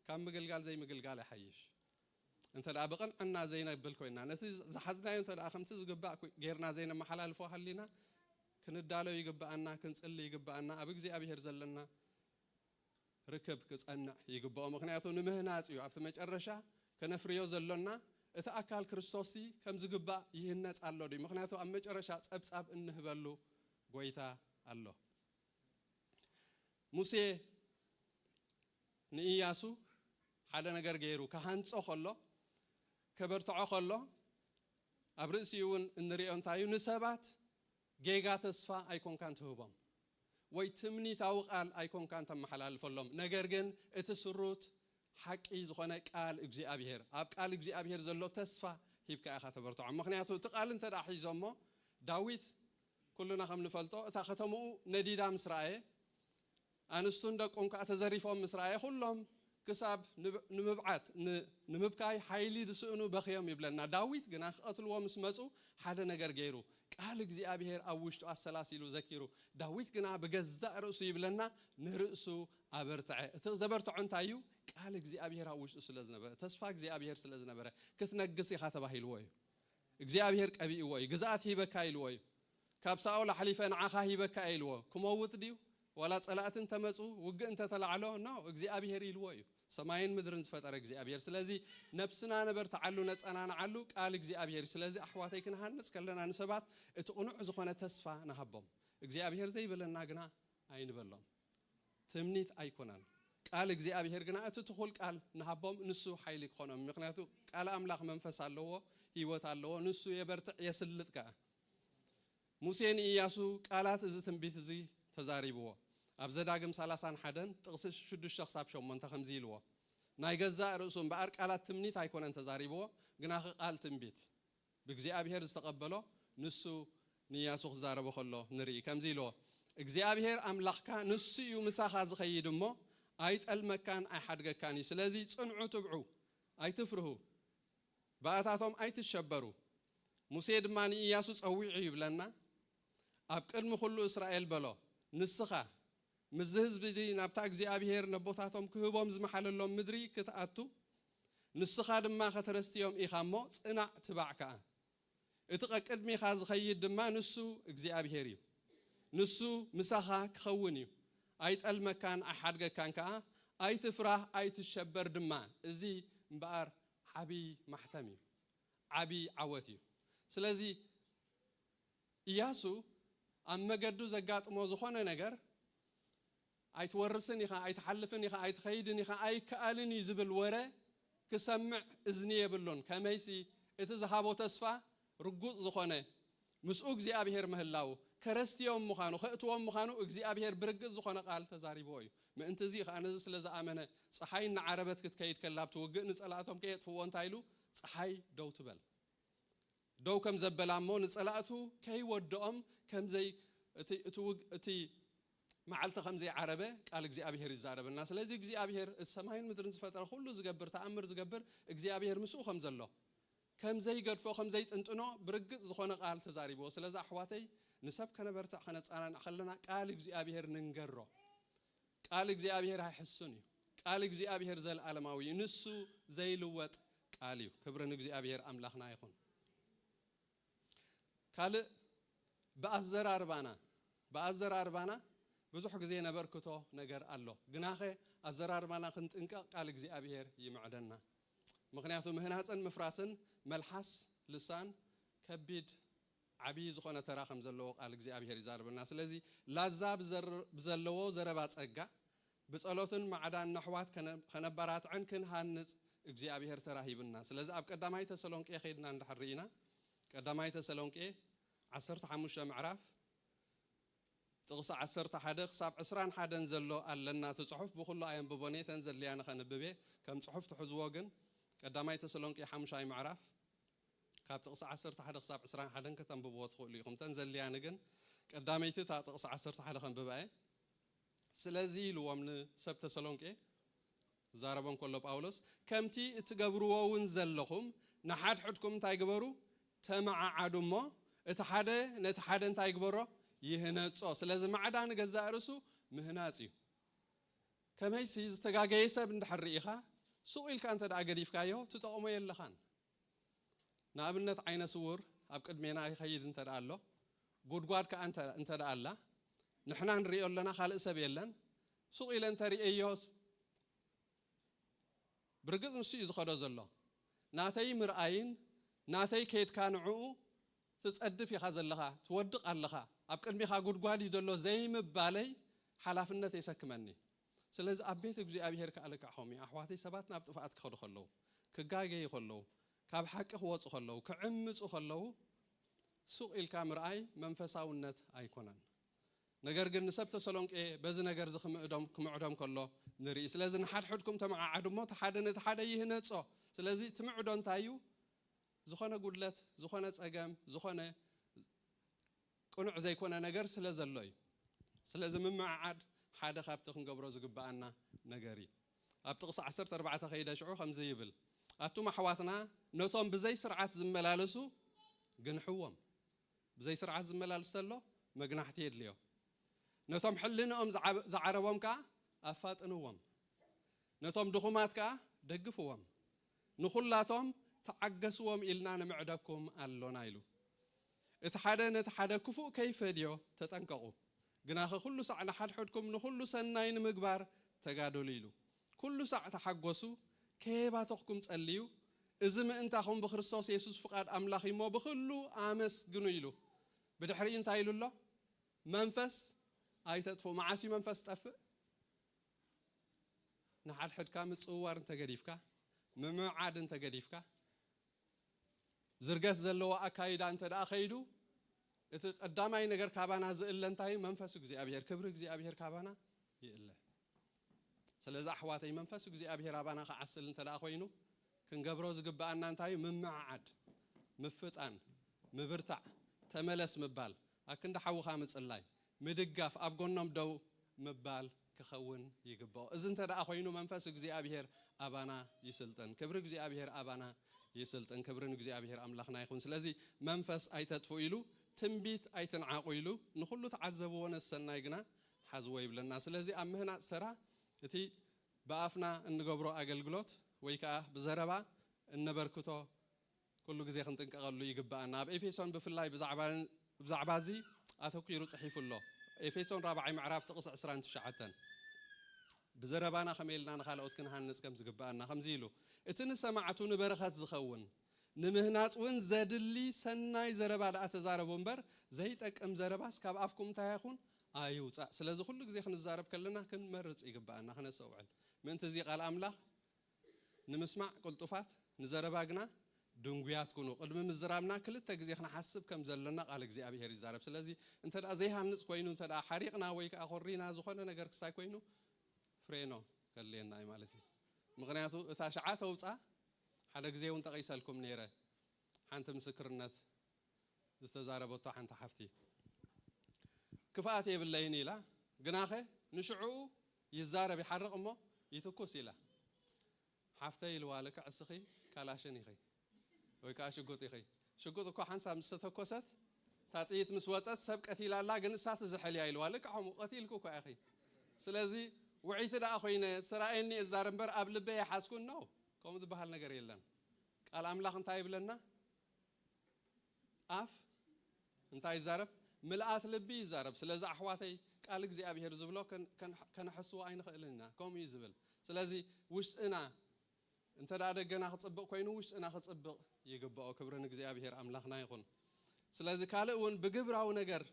ካብ ምግልጋል ዘይምግልጋል ይሓይሽ። እንተ ብቕንዕና ዘይነብል ኮይንና ነቲ ዝሓዝናዮ እንተ ከምቲ ዝግባእ ጌርና ዘይነመሓላልፎ ሃሊና ክንዳሎ ይግብኣና፣ ክንጽሊ ይግብኣና፣ ኣብ እግዚኣብሄር ዘለና ርክብ ክጸንዕ ይግብኦ ምኽንያቱ ንምህናጽ እዩ ኣብቲ መጨረሻ ከነፍርዮ ዘሎና እቲ ኣካል ክርስቶስሲ ከም ዝግባእ ይህነጽ ኣሎ ድዩ ምኽንያቱ ኣብ መጨረሻ ጸብጻብ እንህበሉ ጎይታ ኣሎ ሙሴ ንእያሱ ሓደ ነገር ገይሩ ክሃንጾ ከሎ ከበርትዖ ከሎ ኣብ ርእሲኡ እውን እንሪኦ እንታይ እዩ ንሰባት ጌጋ ተስፋ ኣይኮንካን ትህቦም ወይ ትምኒታዊ ቃል ኣይኮንካን ተመሓላልፈሎም ነገር ግን እቲ ስሩት ሓቂ ዝኾነ ቃል እግዚኣብሄር ኣብ ቃል እግዚኣብሄር ዘሎ ተስፋ ሂብካ ኢኻ ተበርትዖም ምኽንያቱ እቲ ቃል እንተ ሒዞሞ ዳዊት ኩልና ከም ንፈልጦ እታ ከተምኡ ነዲዳ ምስ ረኣየ ኣንስቱን ደቁን ከኣ ተዘሪፎም ምስ ረኣየ ኩሎም ክሳብ ንምብዓት ንምብካይ ሓይሊ ዝስእኑ በኽዮም ይብለና። ዳዊት ግና ክቐትልዎ ምስ መጹ ሓደ ነገር ገይሩ ቃል እግዚኣብሄር ኣብ ውሽጡ ኣሰላሲሉ ዘኪሩ ዳዊት ግና ብገዛእ ርእሱ ይብለና ንርእሱ ኣበርተዐ እቲ ዘበርተዖ እንታይ እዩ ቃል እግዚኣብሄር ኣብ ውሽጡ ስለ ዝነበረ ተስፋ እግዚኣብሄር ስለ ዝነበረ ክትነግስ ኢኻ ተባሂልዎ እዩ እግዚኣብሄር ቀቢእዎ እዩ ግዝኣት ሂበካ ኢልዎ እዩ ካብ ሳኦል ኣሕሊፈ ንዓኻ ሂበካ እየ ኢልዎ። ክመውት ድዩ? ዋላ ጸላእቲ እንተ መጹ፣ ውግእ እንተ ተላዕሎ፣ no፣ እግዚኣብሄር ኢልዎ እዩ። ሰማይን ምድርን ዝፈጠረ እግዚኣብሄር። ስለዚ ነብስና ነበርትዓሉ፣ ነጸናንዓሉ፣ ቃል እግዚኣብሄር እዩ። ስለዚ ኣሕዋተይ ክንሃንጽ ከለና ንሰባት እቲ ቅኑዕ ዝኾነ ተስፋ ንሃቦም። እግዚኣብሄር ዘይበለና ግና ኣይንበሎም። ትምኒት ኣይኮነን። ቃል እግዚኣብሄር ግና እቲ ትኹል ቃል ንሃቦም ንሱ ሓይሊ ክኾኖም እዩ። ምኽንያቱ ቃል ኣምላኽ መንፈስ ኣለዎ፣ ህይወት ኣለዎ፣ ንሱ የበርትዕ የስልጥ ከኣ። ሙሴ ንእያሱ ቃላት እዚ ትንቢት እዚ ተዛሪብዎ። ኣብ ዘዳግም ሰላሳን ሓደን ጥቕሲ ሽዱሽተ ክሳብ ሸሞንተ ከምዚ ኢልዎ፣ ናይ ገዛእ ርእሱ እምበኣር ቃላት ትምኒት ኣይኮነን ተዛሪብዎ፣ ግናኸ ቃል ትንቢት ብእግዚኣብሄር ዝተቐበሎ ንሱ ንእያሱ ክዛረቦ ከሎ ንርኢ። ከምዚ ኢልዎ፣ እግዚኣብሄር ኣምላኽካ ንሱ እዩ ምሳኻ ዝኸይድ እሞ፣ ኣይጠልመካን ኣይሓድገካን እዩ። ስለዚ ጽንዑ ትብዑ፣ ኣይትፍርሁ፣ ብኣታቶም ኣይትሸበሩ፣ ሙሴ ድማ ንእያሱ ጸዊዑ ይብለና፣ ኣብ ቅድሚ ዅሉ እስራኤል በሎ፣ ንስኻ፣ ምስዚ ህዝቢ እዚ ናብታ እግዚኣብሄር ነቦታቶም ክህቦም ዝመሓለሎም ምድሪ ኽትኣቱ፣ ንስኻ ድማ ኸተረስትዮም ኢኻ እሞ፣ ጽናዕ፣ ትባዕ ከኣ። እቲ ቀቅድሚኻ ዝኸይድ ድማ ንሱ እግዚኣብሄር እዩ። ንሱ ምሳኻ ክኸውን እዩ፣ ኣይጠልመካን ኣይሓድገካን ከኣ፣ ኣይትፍራህ ኣይትሸበር ድማ። እዚ እምበኣር ዓብዪ ማሕተም እዩ፣ ዓብዪ ዓወት እዩ። ስለዚ እያሱ ኣብ መገዱ ዘጋጥሞ ዝኾነ ነገር፣ ኣይትወርስን ኢኻ፣ ኣይትሓልፍን ኢኻ፣ ኣይትኸይድን ኢኻ፣ ኣይከኣልን እዩ ዝብል ወረ ክሰምዕ እዝኒ የብሉን። ከመይሲ እቲ ዝሃቦ ተስፋ ርጉጽ ዝኾነ ምስኡ እግዚኣብሄር ምህላዉ፣ ከረስትዮም ምዃኑ፣ ከእትዎም ምዃኑ እግዚኣብሄር ብርግጽ ዝኾነ ቃል ተዛሪብዎ እዩ። ምእንቲ እዚ ኸኣ ነዚ ስለ ዝኣመነ ጸሓይ እናዓረበት ክትከይድ ከላ ኣብቲ ውግእ ንጸላእቶም ከየጥፍእዎ እንታይ ኢሉ፣ ጸሓይ ደው ትበል። ደው ከም ዘበላ እሞ ንጸላእቱ ከይወድኦም ከምዘይ እቲ እቲ ውግ እቲ መዓልቲ ከም ዘይዓረበ ቃል እግዚኣብሄር ይዛረበና ስለዚ እግዚኣብሄር እቲ ሰማይን ምድርን ዝፈጠረ ኩሉ ዝገብር ተኣምር ዝገብር እግዚኣብሄር ምስኡ ከም ዘሎ ከም ዘይገድፎ ከም ዘይጥንጥኖ ብርግጽ ዝኾነ ቃል ተዛሪብዎ ስለዚ ኣሕዋተይ ንሰብ ከነበርትዕ ከነጻናንዕ ከለና ቃል እግዚኣብሄር ንንገሮ ቃል እግዚኣብሄር ኣይሕሱን እዩ ቃል እግዚኣብሄር ዘልኣለማዊ እዩ ንሱ ዘይልወጥ ቃል እዩ ክብሪ ንእግዚኣብሄር ኣምላኽና ይኹን ካልእ ብኣዘራርባና ብኣዘራርባና ብዙሕ ግዜ ነበርክቶ ነገር ኣሎ ግናኸ ኣዘራርባና ክንጥንቀቕ ቃል እግዚኣብሄር ይምዕደና ምክንያቱ ምህናፅን ምፍራስን መልሓስ ልሳን ከቢድ ዓብዪ ዝኾነ ተራ ከም ዘለዎ ቃል እግዚኣብሄር ይዛረበና። ስለዚ ላዛ ብዘለዎ ዘረባ ጸጋ ብጸሎትን ማዕዳን ነሕዋት ከነበራትዕን ክንሃንጽ እግዚኣብሄር ተራ ሂብና። ስለዚ ኣብ ቀዳማይ ተሰሎንቄ ከይድና እንድሕር ርኢና ቀዳማይ ተሰሎንቄ ዓሰርተ ሓሙሽተ ምዕራፍ፣ ጥቕሲ ዓሰርተ ሓደ ክሳብ ዕስራን ሓደን ዘሎ ኣለና እቲ ጽሑፍ ብኹሉ ኣየንብቦን እየ እተን ዘድልያኒ ከንብብ እየ ከም ጽሑፍ ትሕዝዎ ግን ቀዳማይ ተሰሎንቄ ሓሙሻይ ምዕራፍ ካብ ጥቕሲ ዓሰርተ ሓደ ክሳብ ዕስራን ሓደን ከተንብብዎ ትኽእሉ ኢኹም እተን ዘድልያኒ ግን ቀዳመይቲ እታ ጥቕሲ ዓሰርተ ሓደ ከንብባ እየ ስለዚ ኢልዎም ንሰብ ተሰሎንቄ ክዛረቦ እንከሎ ጳውሎስ ከምቲ እትገብርዎውን ዘለኹም ንሓድሕድኩም እንታይ ግበሩ ተመዓዓዱ እሞ እቲ ሓደ ነቲ ሓደ እንታይ ግበሮ ይህነጾ ስለዚ ማዕዳ ንገዛእ ርእሱ ምህናጽ እዩ ከመይሲ ዝተጋገየ ሰብ እንድሕር ርኢኻ ሱቕ ኢልካ እንተድኣ ገዲፍካዮ ትጠቕሞ የለኻን ንኣብነት ዓይነ ስዉር ኣብ ቅድሜና ይኸይድ እንተ ኣሎ፣ ጉድጓድ ከኣ እንተ ኣላ፣ ንሕና ንርእዮ ኣለና ካልእ ሰብ የለን፣ ሱቕ ኢለ እንተ ርእየዮስ፣ ብርግጽ ንሱ እዩ ዝኸዶ ዘሎ፣ ናተይ ምርኣይን ናተይ ከይድካ ንዕኡ ትጸድፍ ኢኻ ዘለኻ፣ ትወድቕ ኣለኻ፣ ኣብ ቅድሜኻ ጉድጓድ እዩ ዘሎ ዘይምባለይ ሓላፍነት የሰክመኒ። ስለዚ ኣብ ቤት እግዚኣብሄር ከኣ ልክዕ ከምኡ እዩ። ኣሕዋተይ ሰባት ናብ ጥፍኣት ክኸዱ ከለዉ፣ ክጋገዩ ከለዉ፣ ካብ ሓቂ ክወጹ ከለዉ፣ ክዕምጹ ከለዉ ሱቕ ኢልካ ምርኣይ መንፈሳውነት ኣይኮነን። ነገር ግን ንሰብ ተሰሎንቄ በዚ ነገር እዚ ክምእዶም ክምዕዶም ከሎ ንርኢ። ስለዚ ንሓድሕድኩም ተመዓዓዱ እሞ እቲ ሓደ ነቲ ሓደ ይህነጾ። ስለዚ እቲ ምዕዶ እንታይ እዩ? ዝኾነ ጉድለት፣ ዝኾነ ጸገም፣ ዝኾነ ቅኑዕ ዘይኮነ ነገር ስለ ዘሎ እዩ። ስለዚ ምምዕዓድ ሓደ ካብቲ ክንገብሮ ዝግብኣና ነገር እዩ። ኣብ ጥቕሲ ዓሰርተ ኣርባዕተ ከይደ ሽዑ ከምዚ ይብል፣ ኣቱም ኣሕዋትና ነቶም ብዘይ ስርዓት ዝመላለሱ ግንሕዎም። ብዘይ ስርዓት ዝመላልስ ተሎ መግናሕቲ የድልዮ። ነቶም ሕልንኦም ዝዓረቦም ከኣ ኣፋጥንዎም። ነቶም ድኹማት ከኣ ደግፍዎም። ንኹላቶም ተዓገስዎም ኢልና ንምዕደኩም ኣሎና ኢሉ። እቲ ሓደ ነቲ ሓደ ክፉእ ከይፈድዮ ተጠንቀቑ፣ ግናኸ ኩሉ ሳዕ ንሓድሕድኩም ንኹሉ ሰናይ ንምግባር ተጋደሉ ኢሉ። ኩሉ ሳዕ ተሓጎሱ፣ ከየባተኹኩም ጸልዩ፣ እዚ ምእንታኹም ብክርስቶስ የሱስ ፍቓድ ኣምላኽ እዩ እሞ ብኹሉ ኣመስግኑ ኢሉ። ብድሕሪኡ እንታይ ኢሉ ኣሎ? መንፈስ ኣይተጥፍኡ። መዓስ እዩ መንፈስ ዝጠፍእ? ንሓድሕድካ ምጽውዋር እንተገዲፍካ፣ ምምዕዓድ እንተገዲፍካ፣ ዝርገት ዘለዎ ኣካይዳ እንተደኣ ከይዱ፣ እቲ ቀዳማይ ነገር ካባና ዝእለ እንታይ እዩ? መንፈስ እግዚኣብሄር፣ ክብሪ እግዚኣብሄር ካባና ይእለ። ስለዚ ኣሕዋተይ መንፈስ እግዚኣብሄር ኣባና ክዓስል እንተደኣ ኮይኑ፣ ክንገብሮ ዝግበኣና እንታይ እዩ? ምምዕዓድ፣ ምፍጣን፣ ምብርታዕ፣ ተመለስ ምባል፣ ኣክንዲ ሓውኻ ምጽላይ፣ ምድጋፍ፣ ኣብ ጎኖም ደው ምባል ክኸውን ይግብኦ። እዚ እንተ ደኣ ኮይኑ መንፈስ እግዚኣብሄር ኣባና ይስልጥን። ክብሪ እግዚኣብሄር ኣባና ይስልጥን። ክብሪ ንእግዚኣብሄር ኣምላኽና ይኹን። ስለዚ መንፈስ ኣይተጥፍኡ ኢሉ፣ ትንቢት ኣይትንዓቑ ኢሉ፣ ንኹሉ ተዓዘብዎ ነሰናይ ግና ሓዝዎ ይብለና። ስለዚ ኣብ ምህናጽ ተራ እቲ ብኣፍና እንገብሮ ኣገልግሎት ወይ ከኣ ብዘረባ እነበርክቶ ኩሉ ግዜ ክንጥንቀቐሉ ይግብኣና። ኣብ ኤፌሶን ብፍላይ ብዛዕባ እዚ ኣተኲሩ ጽሒፉ ኣሎ። ኤፌሶን ራብዓይ ምዕራፍ ጥቕሲ ዕስራን ትሽዓተን፣ ብዘረባና ከመይ ኢልና ንኻልኦት ክንሃንጽ ከም ዝግብኣና ከምዚ ኢሉ፣ እቲ ንሰማዕቱ ንበረኸት ዝኸውን፣ ንምህናጽ እውን ዘድሊ ሰናይ ዘረባ ደኣ ተዛረቡ እምበር፣ ዘይጠቅም ዘረባስ ካብ ኣፍኩም እንታይ ኣይኹን? ኣይውጻእ። ስለዚ ኩሉ ግዜ ክንዛረብ ከለና ክንመርጽ ይግብኣና፣ ከነስተውዕል። ምእንቲ እዚ ቃል ኣምላኽ ንምስማዕ ቅልጡፋት፣ ንዘረባ ግና ድንጉያት ኩኑ። ቅድሚ ምዝራብና ክልተ ግዜ ክንሓስብ ከም ዘሎና ቓል እግዚኣብሄር ይዛረብ። ስለዚ፣ እንተ ዘይሃንጽ ኰይኑ፣ እንተ ሓሪቕና ወይ ከኣ ኰሪና ዝዀነ ነገር ክሳይ ኰይኑ ፍሬኖ ከድልየና እዩ ማለት እዩ። ምኽንያቱ እታ ሽዓ ተውጻ ሓደ ግዜ እውን ጠቒሰልኩም ነይረ ሓንቲ ምስክርነት፣ ዝተዛረበቶ ሓንቲ ሓፍቲ ክፍኣት የብለይን ኢላ ግናኸ ንሽዑኡ ይዛረብ ይሓርቕ እሞ ይትኩስ ኢላ ሓፍተይ ኢልዋ ልክዕ እስኺ ካላሽን ኢኺ ወይ ከኣ ሽጉጥ ኢኺ ሽጉጥ እኳ ሓንሳብ ምስ ተተኮሰት እታ ጥይት ምስ ወጸት ሰብ ቀቲላ ኣላ ግን እሳ ትዝሕል እያ ኢልዋ ልክዕ ከምኡ ቀቲልኪ እኳ ኢኺ ስለዚ ውዕይቲ ደኣ ኮይነ ስራኤኒ እዛረብ እምበር ኣብ ልበይ ኣይሓዝኩን ነው ከምኡ ዝበሃል ነገር የለን ቃል ኣምላኽ እንታይ ይብለና ኣፍ እንታይ ይዛረብ ምልኣት ልቢ ይዛረብ ስለዚ ኣሕዋተይ ቃል እግዚኣብሄር ዝብሎ ከነሐስዎ ኣይንኽእልን ኢና ከምኡ እዩ ዝብል ስለዚ ውሽጥና እንተ ደገና ክጽብቕ ኮይኑ ውሽጥና ክጽብቕ ይግብኦ ክብሪ ንእግዚኣብሄር ኣምላኽና ይኹን ስለዚ ካልእ እውን ብግብራዊ ነገር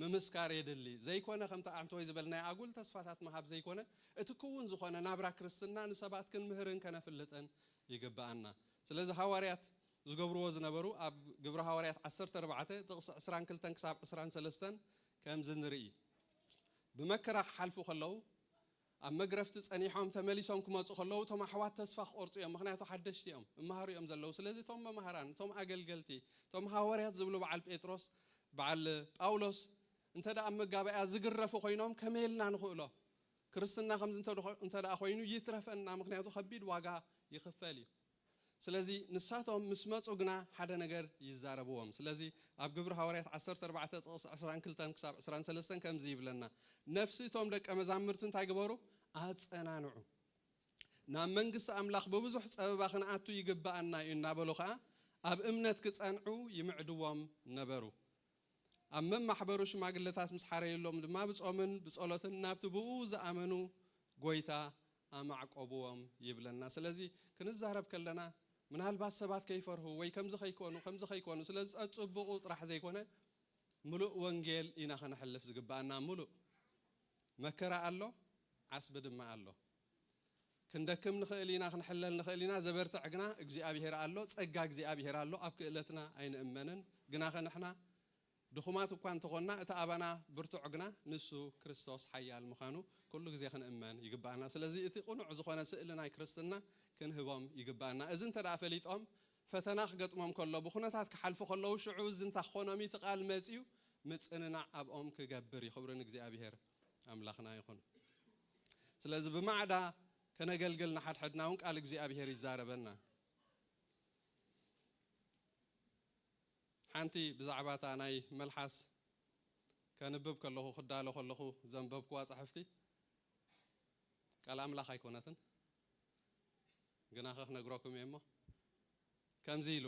ምምስካር የድሊ። ዘይኮነ ከምቲ ኣንቶይ ዝበልናዮ ኣጉል ተስፋታት ምሃብ ዘይኮነ እቲ ክዉን ዝኾነ ናብራ ክርስትና ንሰባት ክንምህርን ከነፍልጥን ይግብኣና። ስለዚ ሃዋርያት ዝገብርዎ ዝነበሩ ኣብ ግብሪ ሃዋርያት ዓሰርተ ኣርባዕተ ጥቕሲ ዕስራን ክልተን ክሳብ ዕስራን ሰለስተን ከምዚ ንርኢ። ብመከራ ክሓልፉ ከለዉ ኣብ መግረፍቲ ጸኒሖም ተመሊሶም ክመጹ ከለዉ እቶም ኣሕዋት ተስፋ ክቆርጹ እዮም ምኽንያቱ ሓደሽቲ እዮም እመሃሩ እዮም ዘለዉ ስለዚ እቶም መማህራን እቶም ኣገልገልቲ እቶም ሃወርያት ዝብሉ በዓል ጴጥሮስ በዓል ጳውሎስ እንተ ኣብ መጋባእያ ዝግረፉ ኮይኖም ከመይ ኢልና ንኽእሎ ክርስትና ከምዚ እንተ ኮይኑ ይትረፈና ምኽንያቱ ከቢድ ዋጋ ይኽፈል እዩ ስለዚ ንሳቶም ምስ መጹ ግና ሓደ ነገር ይዛረብዎም። ስለዚ ኣብ ግብሪ ሃዋርያት ዓሰርተ ኣርባዕተ ጥቕሲ ዕስራን ክልተን ክሳብ ዕስራን ሰለስተን ከምዚ ይብለና ነፍሲ እቶም ደቀ መዛምርቲ እንታይ ግበሩ ኣጸናንዑ ናብ መንግስቲ ኣምላኽ ብብዙሕ ጸበባ ክንኣቱ ይግብኣና እዩ እናበሉ ከኣ ኣብ እምነት ክጸንዑ ይምዕድዎም ነበሩ። ኣብ መማሕበሩ ሽማግለታት ምስ ሓረዩሎም ድማ ብጾምን ብጸሎትን ናብቲ ብእኡ ዝኣመኑ ጎይታ ኣማዕቆብዎም ይብለና። ስለዚ ክንዛረብ ከለና ምናልባት ሰባት ከይፈርሁ ወይ ከምዚ ከይኮኑ ከምዚ ከይኮኑ ስለ ዝጸጽብቑ ጥራሕ ዘይኮነ ምሉእ ወንጌል ኢና ከነሕልፍ ዝግብኣና። ምሉእ መከራ ኣሎ ዓስቢ ድማ ኣሎ። ክንደክም ንኽእል ኢና ክንሕለል ንኽእል ኢና ዘበርትዕ ግና እግዚኣብሄር ኣሎ ጸጋ እግዚኣብሄር ኣሎ ኣብ ክእለትና ኣይንእመንን ግናኸ ንሕና ድኹማት እኳ እንተኾንና እቲ ኣባና ብርቱዕ ግና ንሱ ክርስቶስ ሓያል ምዃኑ ኩሉ ግዜ ክንእመን ይግብኣና ስለዚ እቲ ቅኑዕ ዝኾነ ስእሊ ናይ ክርስትና ክንህቦም ይግብኣና እዚ እንተ ፈሊጦም ፈተና ክገጥሞም ከሎ ብኩነታት ክሓልፉ ከለዉ ሽዑ እዚ እንታ ክኾኖም እቲ ቃል መጺኡ ምጽንናዕ ኣብኦም ክገብር እዩ ክብሪ ንእግዚኣብሄር ኣምላኽና ይኹን። ስለዚ ብማዕዳ ከነገልግል ንሓድሕድና እውን ቃል እግዚኣብሄር ይዛረበና። ሓንቲ ብዛዕባ እታ ናይ መልሓስ ከንብብ ከለኹ ክዳሎ ከለኹ ዘንበብክዋ ጻሕፍቲ ቃል ኣምላኽ ኣይኮነትን ግና ከክነግረኩም እየ እሞ ከምዚ ኢሉ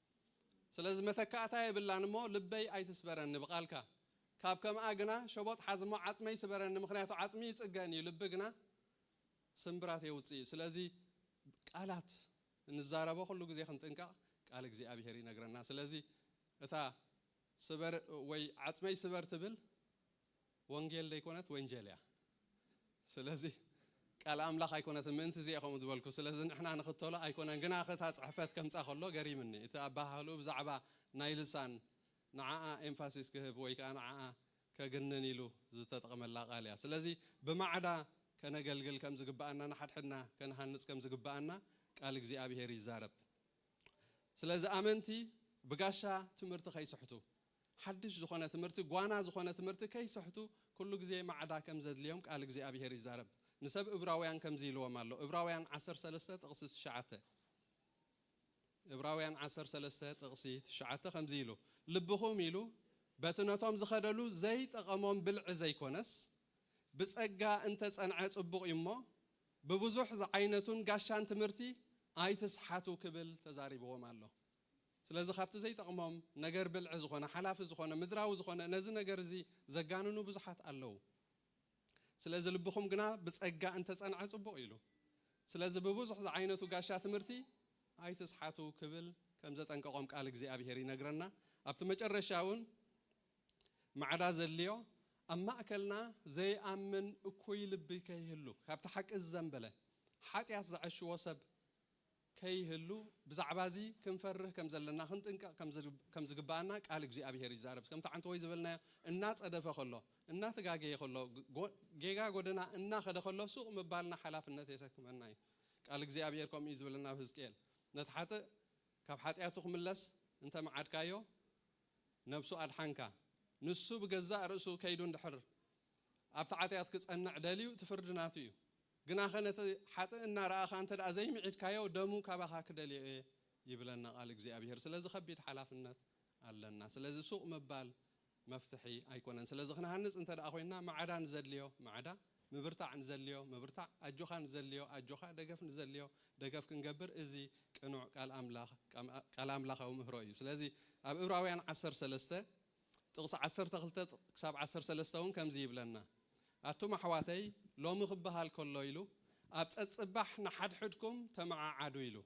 ስለዚ መተካእታ የብላን እሞ ልበይ ኣይትስበረኒ ብቃልካ ካብ ከምኣ ግና ሸቦጥ ሓዝ እሞ ዓጽመይ ስበረኒ ምክንያቱ ዓጽሚ ይጽገን እዩ ልቢ ግና ስምብራት የውጽእ እዩ ስለዚ ቃላት እንዛረቦ ኩሉ ግዜ ክንጥንቀቅ ቃል እግዚኣብሄር ይነግረና ስለዚ እታ ስበር ወይ ዓጽመይ ስበር ትብል ወንጌል ደይኮነት ወንጀል እያ ስለዚ ቃል ኣምላኽ ኣይኮነትን ምእንቲ እዚ እየ ከምኡ ዝበልኩ ስለዚ ንሕና ንኽተሎ ኣይኮነን ግናኸ እታ ጽሕፈት ከምጻ ከሎ ገሪምኒ እቲ ኣበሃህልኡ ብዛዕባ ናይ ልሳን ንዓኣ ኤምፋሲስ ክህብ ወይ ከኣ ንዓኣ ከግንን ኢሉ ዝተጠቕመላ ቃል እያ ስለዚ ብማዕዳ ከነገልግል ከም ዝግብኣና ንሓድሕድና ከንሃንጽ ከም ዝግብኣና ቃል እግዚኣብሄር ይዛረብ ስለዚ ኣመንቲ ብጋሻ ትምህርቲ ከይስሕቱ ሓድሽ ዝኾነ ትምህርቲ፣ ጓና ዝኾነ ትምህርቲ ከይሰሕቱ ኩሉ ግዜ ማዕዳ ከም ዘድልዮም ቃል እግዚኣብሄር ይዛረብ። ንሰብ እብራውያን ከምዚ ኢልዎም ኣሎ፣ እብራውያን ዓሰርተ ሰለስተ ጥቕሲ ትሽዓተ፣ እብራውያን ዓሰርተ ሰለስተ ጥቕሲ ትሽዓተ ከምዚ ኢሉ፣ ልብኹም ኢሉ በቲ ነቶም ዝኸደሉ ዘይጠቐሞም ብልዒ ዘይኮነስ፣ ብጸጋ እንተ ጸንዐ ጽቡቕ እዩ እሞ፣ ብብዙሕ ዝዓይነቱን ጋሻን ትምህርቲ ኣይትስሓቱ ክብል ተዛሪብዎም ኣሎ። ስለዚ ካብቲ ዘይጠቕሞም ነገር ብልዒ ዝኾነ ሓላፊ ዝኾነ ምድራዊ ዝኾነ ነዚ ነገር እዚ ዘጋንኑ ብዙሓት ኣለዉ። ስለዚ ልብኹም ግና ብጸጋ እንተ ጸንዐ ጽቡቕ ኢሉ። ስለዚ ብብዙሕ ዝዓይነቱ ጋሻ ትምህርቲ ኣይትስሓቱ ክብል ከም ዘጠንቀቖም ቃል እግዚኣብሄር ይነግረና። ኣብቲ መጨረሻ እውን ማዕዳ ዘድልዮ ኣብ ማእከልና ዘይኣምን እኩይ ልቢ ከይህሉ፣ ካብቲ ሓቂ ዝዘንበለ፣ ሓጢኣት ዝዐሽዎ ሰብ፣ ከይህሉ ብዛዕባ እዚ ክንፈርህ ከም ዘለና ክንጥንቀቕ ከም ዝግብኣና ቃል እግዚኣብሄር ይዛረብ። ከምቲ ዓንተቦይ ዝበልናዮ እናጸደፈ ከሎ፣ እናተጋገየ ከሎ፣ ጌጋ ጎደና እናኸደ ከሎ ሱቕ ምባልና ሓላፍነት የሰክመና እዩ። ቃል እግዚኣብሄር ከምኡ እዩ ዝብለና ኣብ ህዝቅኤል ነቲ ሓጥእ ካብ ሓጢኣቱ ክምለስ እንተ መዓድካዮ ነብሱ ኣድሓንካ። ንሱ ብገዛእ ርእሱ ከይዱ እንድሕር ኣብቲ ዓጢኣት ክጸንዕ ደልዩ እቲ ፍርዲ ናቱ እዩ። ግናኸ ነቲ ሓጥእ እናረኣኻ እንተ ዘይምዒድካዮ፣ ደሙ ካባኻ ክደልዮ እየ ይብለና ቓል እግዚኣብሄር። ስለዚ ከቢድ ሓላፍነት ኣለና። ስለዚ ሱቕ ምባል መፍትሒ ኣይኮነን። ስለዚ ክንሃንጽ እንተ ኮይንና ማዕዳ ንዘድልዮ ማዕዳ፣ ምብርታዕ ንዘድልዮ ምብርታዕ፣ ኣጆኻ ንዘድልዮ ኣጆኻ፣ ደገፍ ንዘድልዮ ደገፍ ክንገብር እዚ ቅኑዕ ቃል ኣምላኽ ቃል ኣምላኻዊ ምህሮ እዩ። ስለዚ ኣብ እብራውያን ዓሰርተ ሰለስተ፣ ጥቕሲ ዓሰርተ ክልተ ክሳብ ዓሰርተ ሰለስተ እውን ከምዚ ይብለና፣ ኣቱም ኣሕዋተይ፣ ሎሚ ኪበሃል ከሎ ኢሉ፣ ኣብ ጸጽባሕ ንሓድሕድኩም ተመዓዓዱ ኢሉ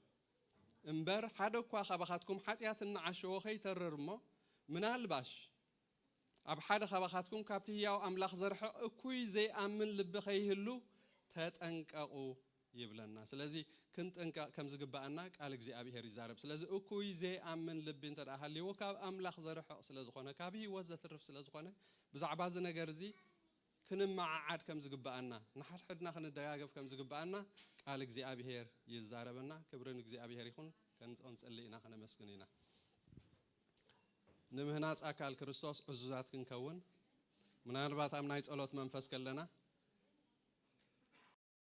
እምበር፣ ሓደ እኳ ካባኻትኩም ሓጢኣት እንዓሸዎ ከይተርር እሞ፣ ምናልባሽ ኣብ ሓደ ካባኻትኩም ካብቲ ህያው ኣምላኽ ዘርሕቕ እኩይ ዘይኣምን ልቢ ከይህሉ ተጠንቀቑ ይብለና ስለዚ ክንጥንቀቅ ከም ዝግበኣና ቃል እግዚኣብሄር ይዛረብ ስለዚ እኩይ ዘይኣምን ልቢ እንተ ሃልይዎ ካብ ኣምላኽ ዘርሕቅ ስለ ዝኮነ ካብ ህይወት ዘትርፍ ስለ ዝኮነ ብዛዕባ እዚ ነገር እዚ ክንመዓዓድ ከም ዝግበኣና ንሓድሕድና ክንደጋገፍ ከም ዝግበኣና ቃል እግዚኣብሄር ይዛረበና ክብሪ ንእግዚኣብሄር ይኩን ክንጽሊ ኢና ከነመስግን ኢና ንምህናጽ ኣካል ክርስቶስ ዕዙዛት ክንከውን ምናልባት ኣብ ናይ ጸሎት መንፈስ ከለና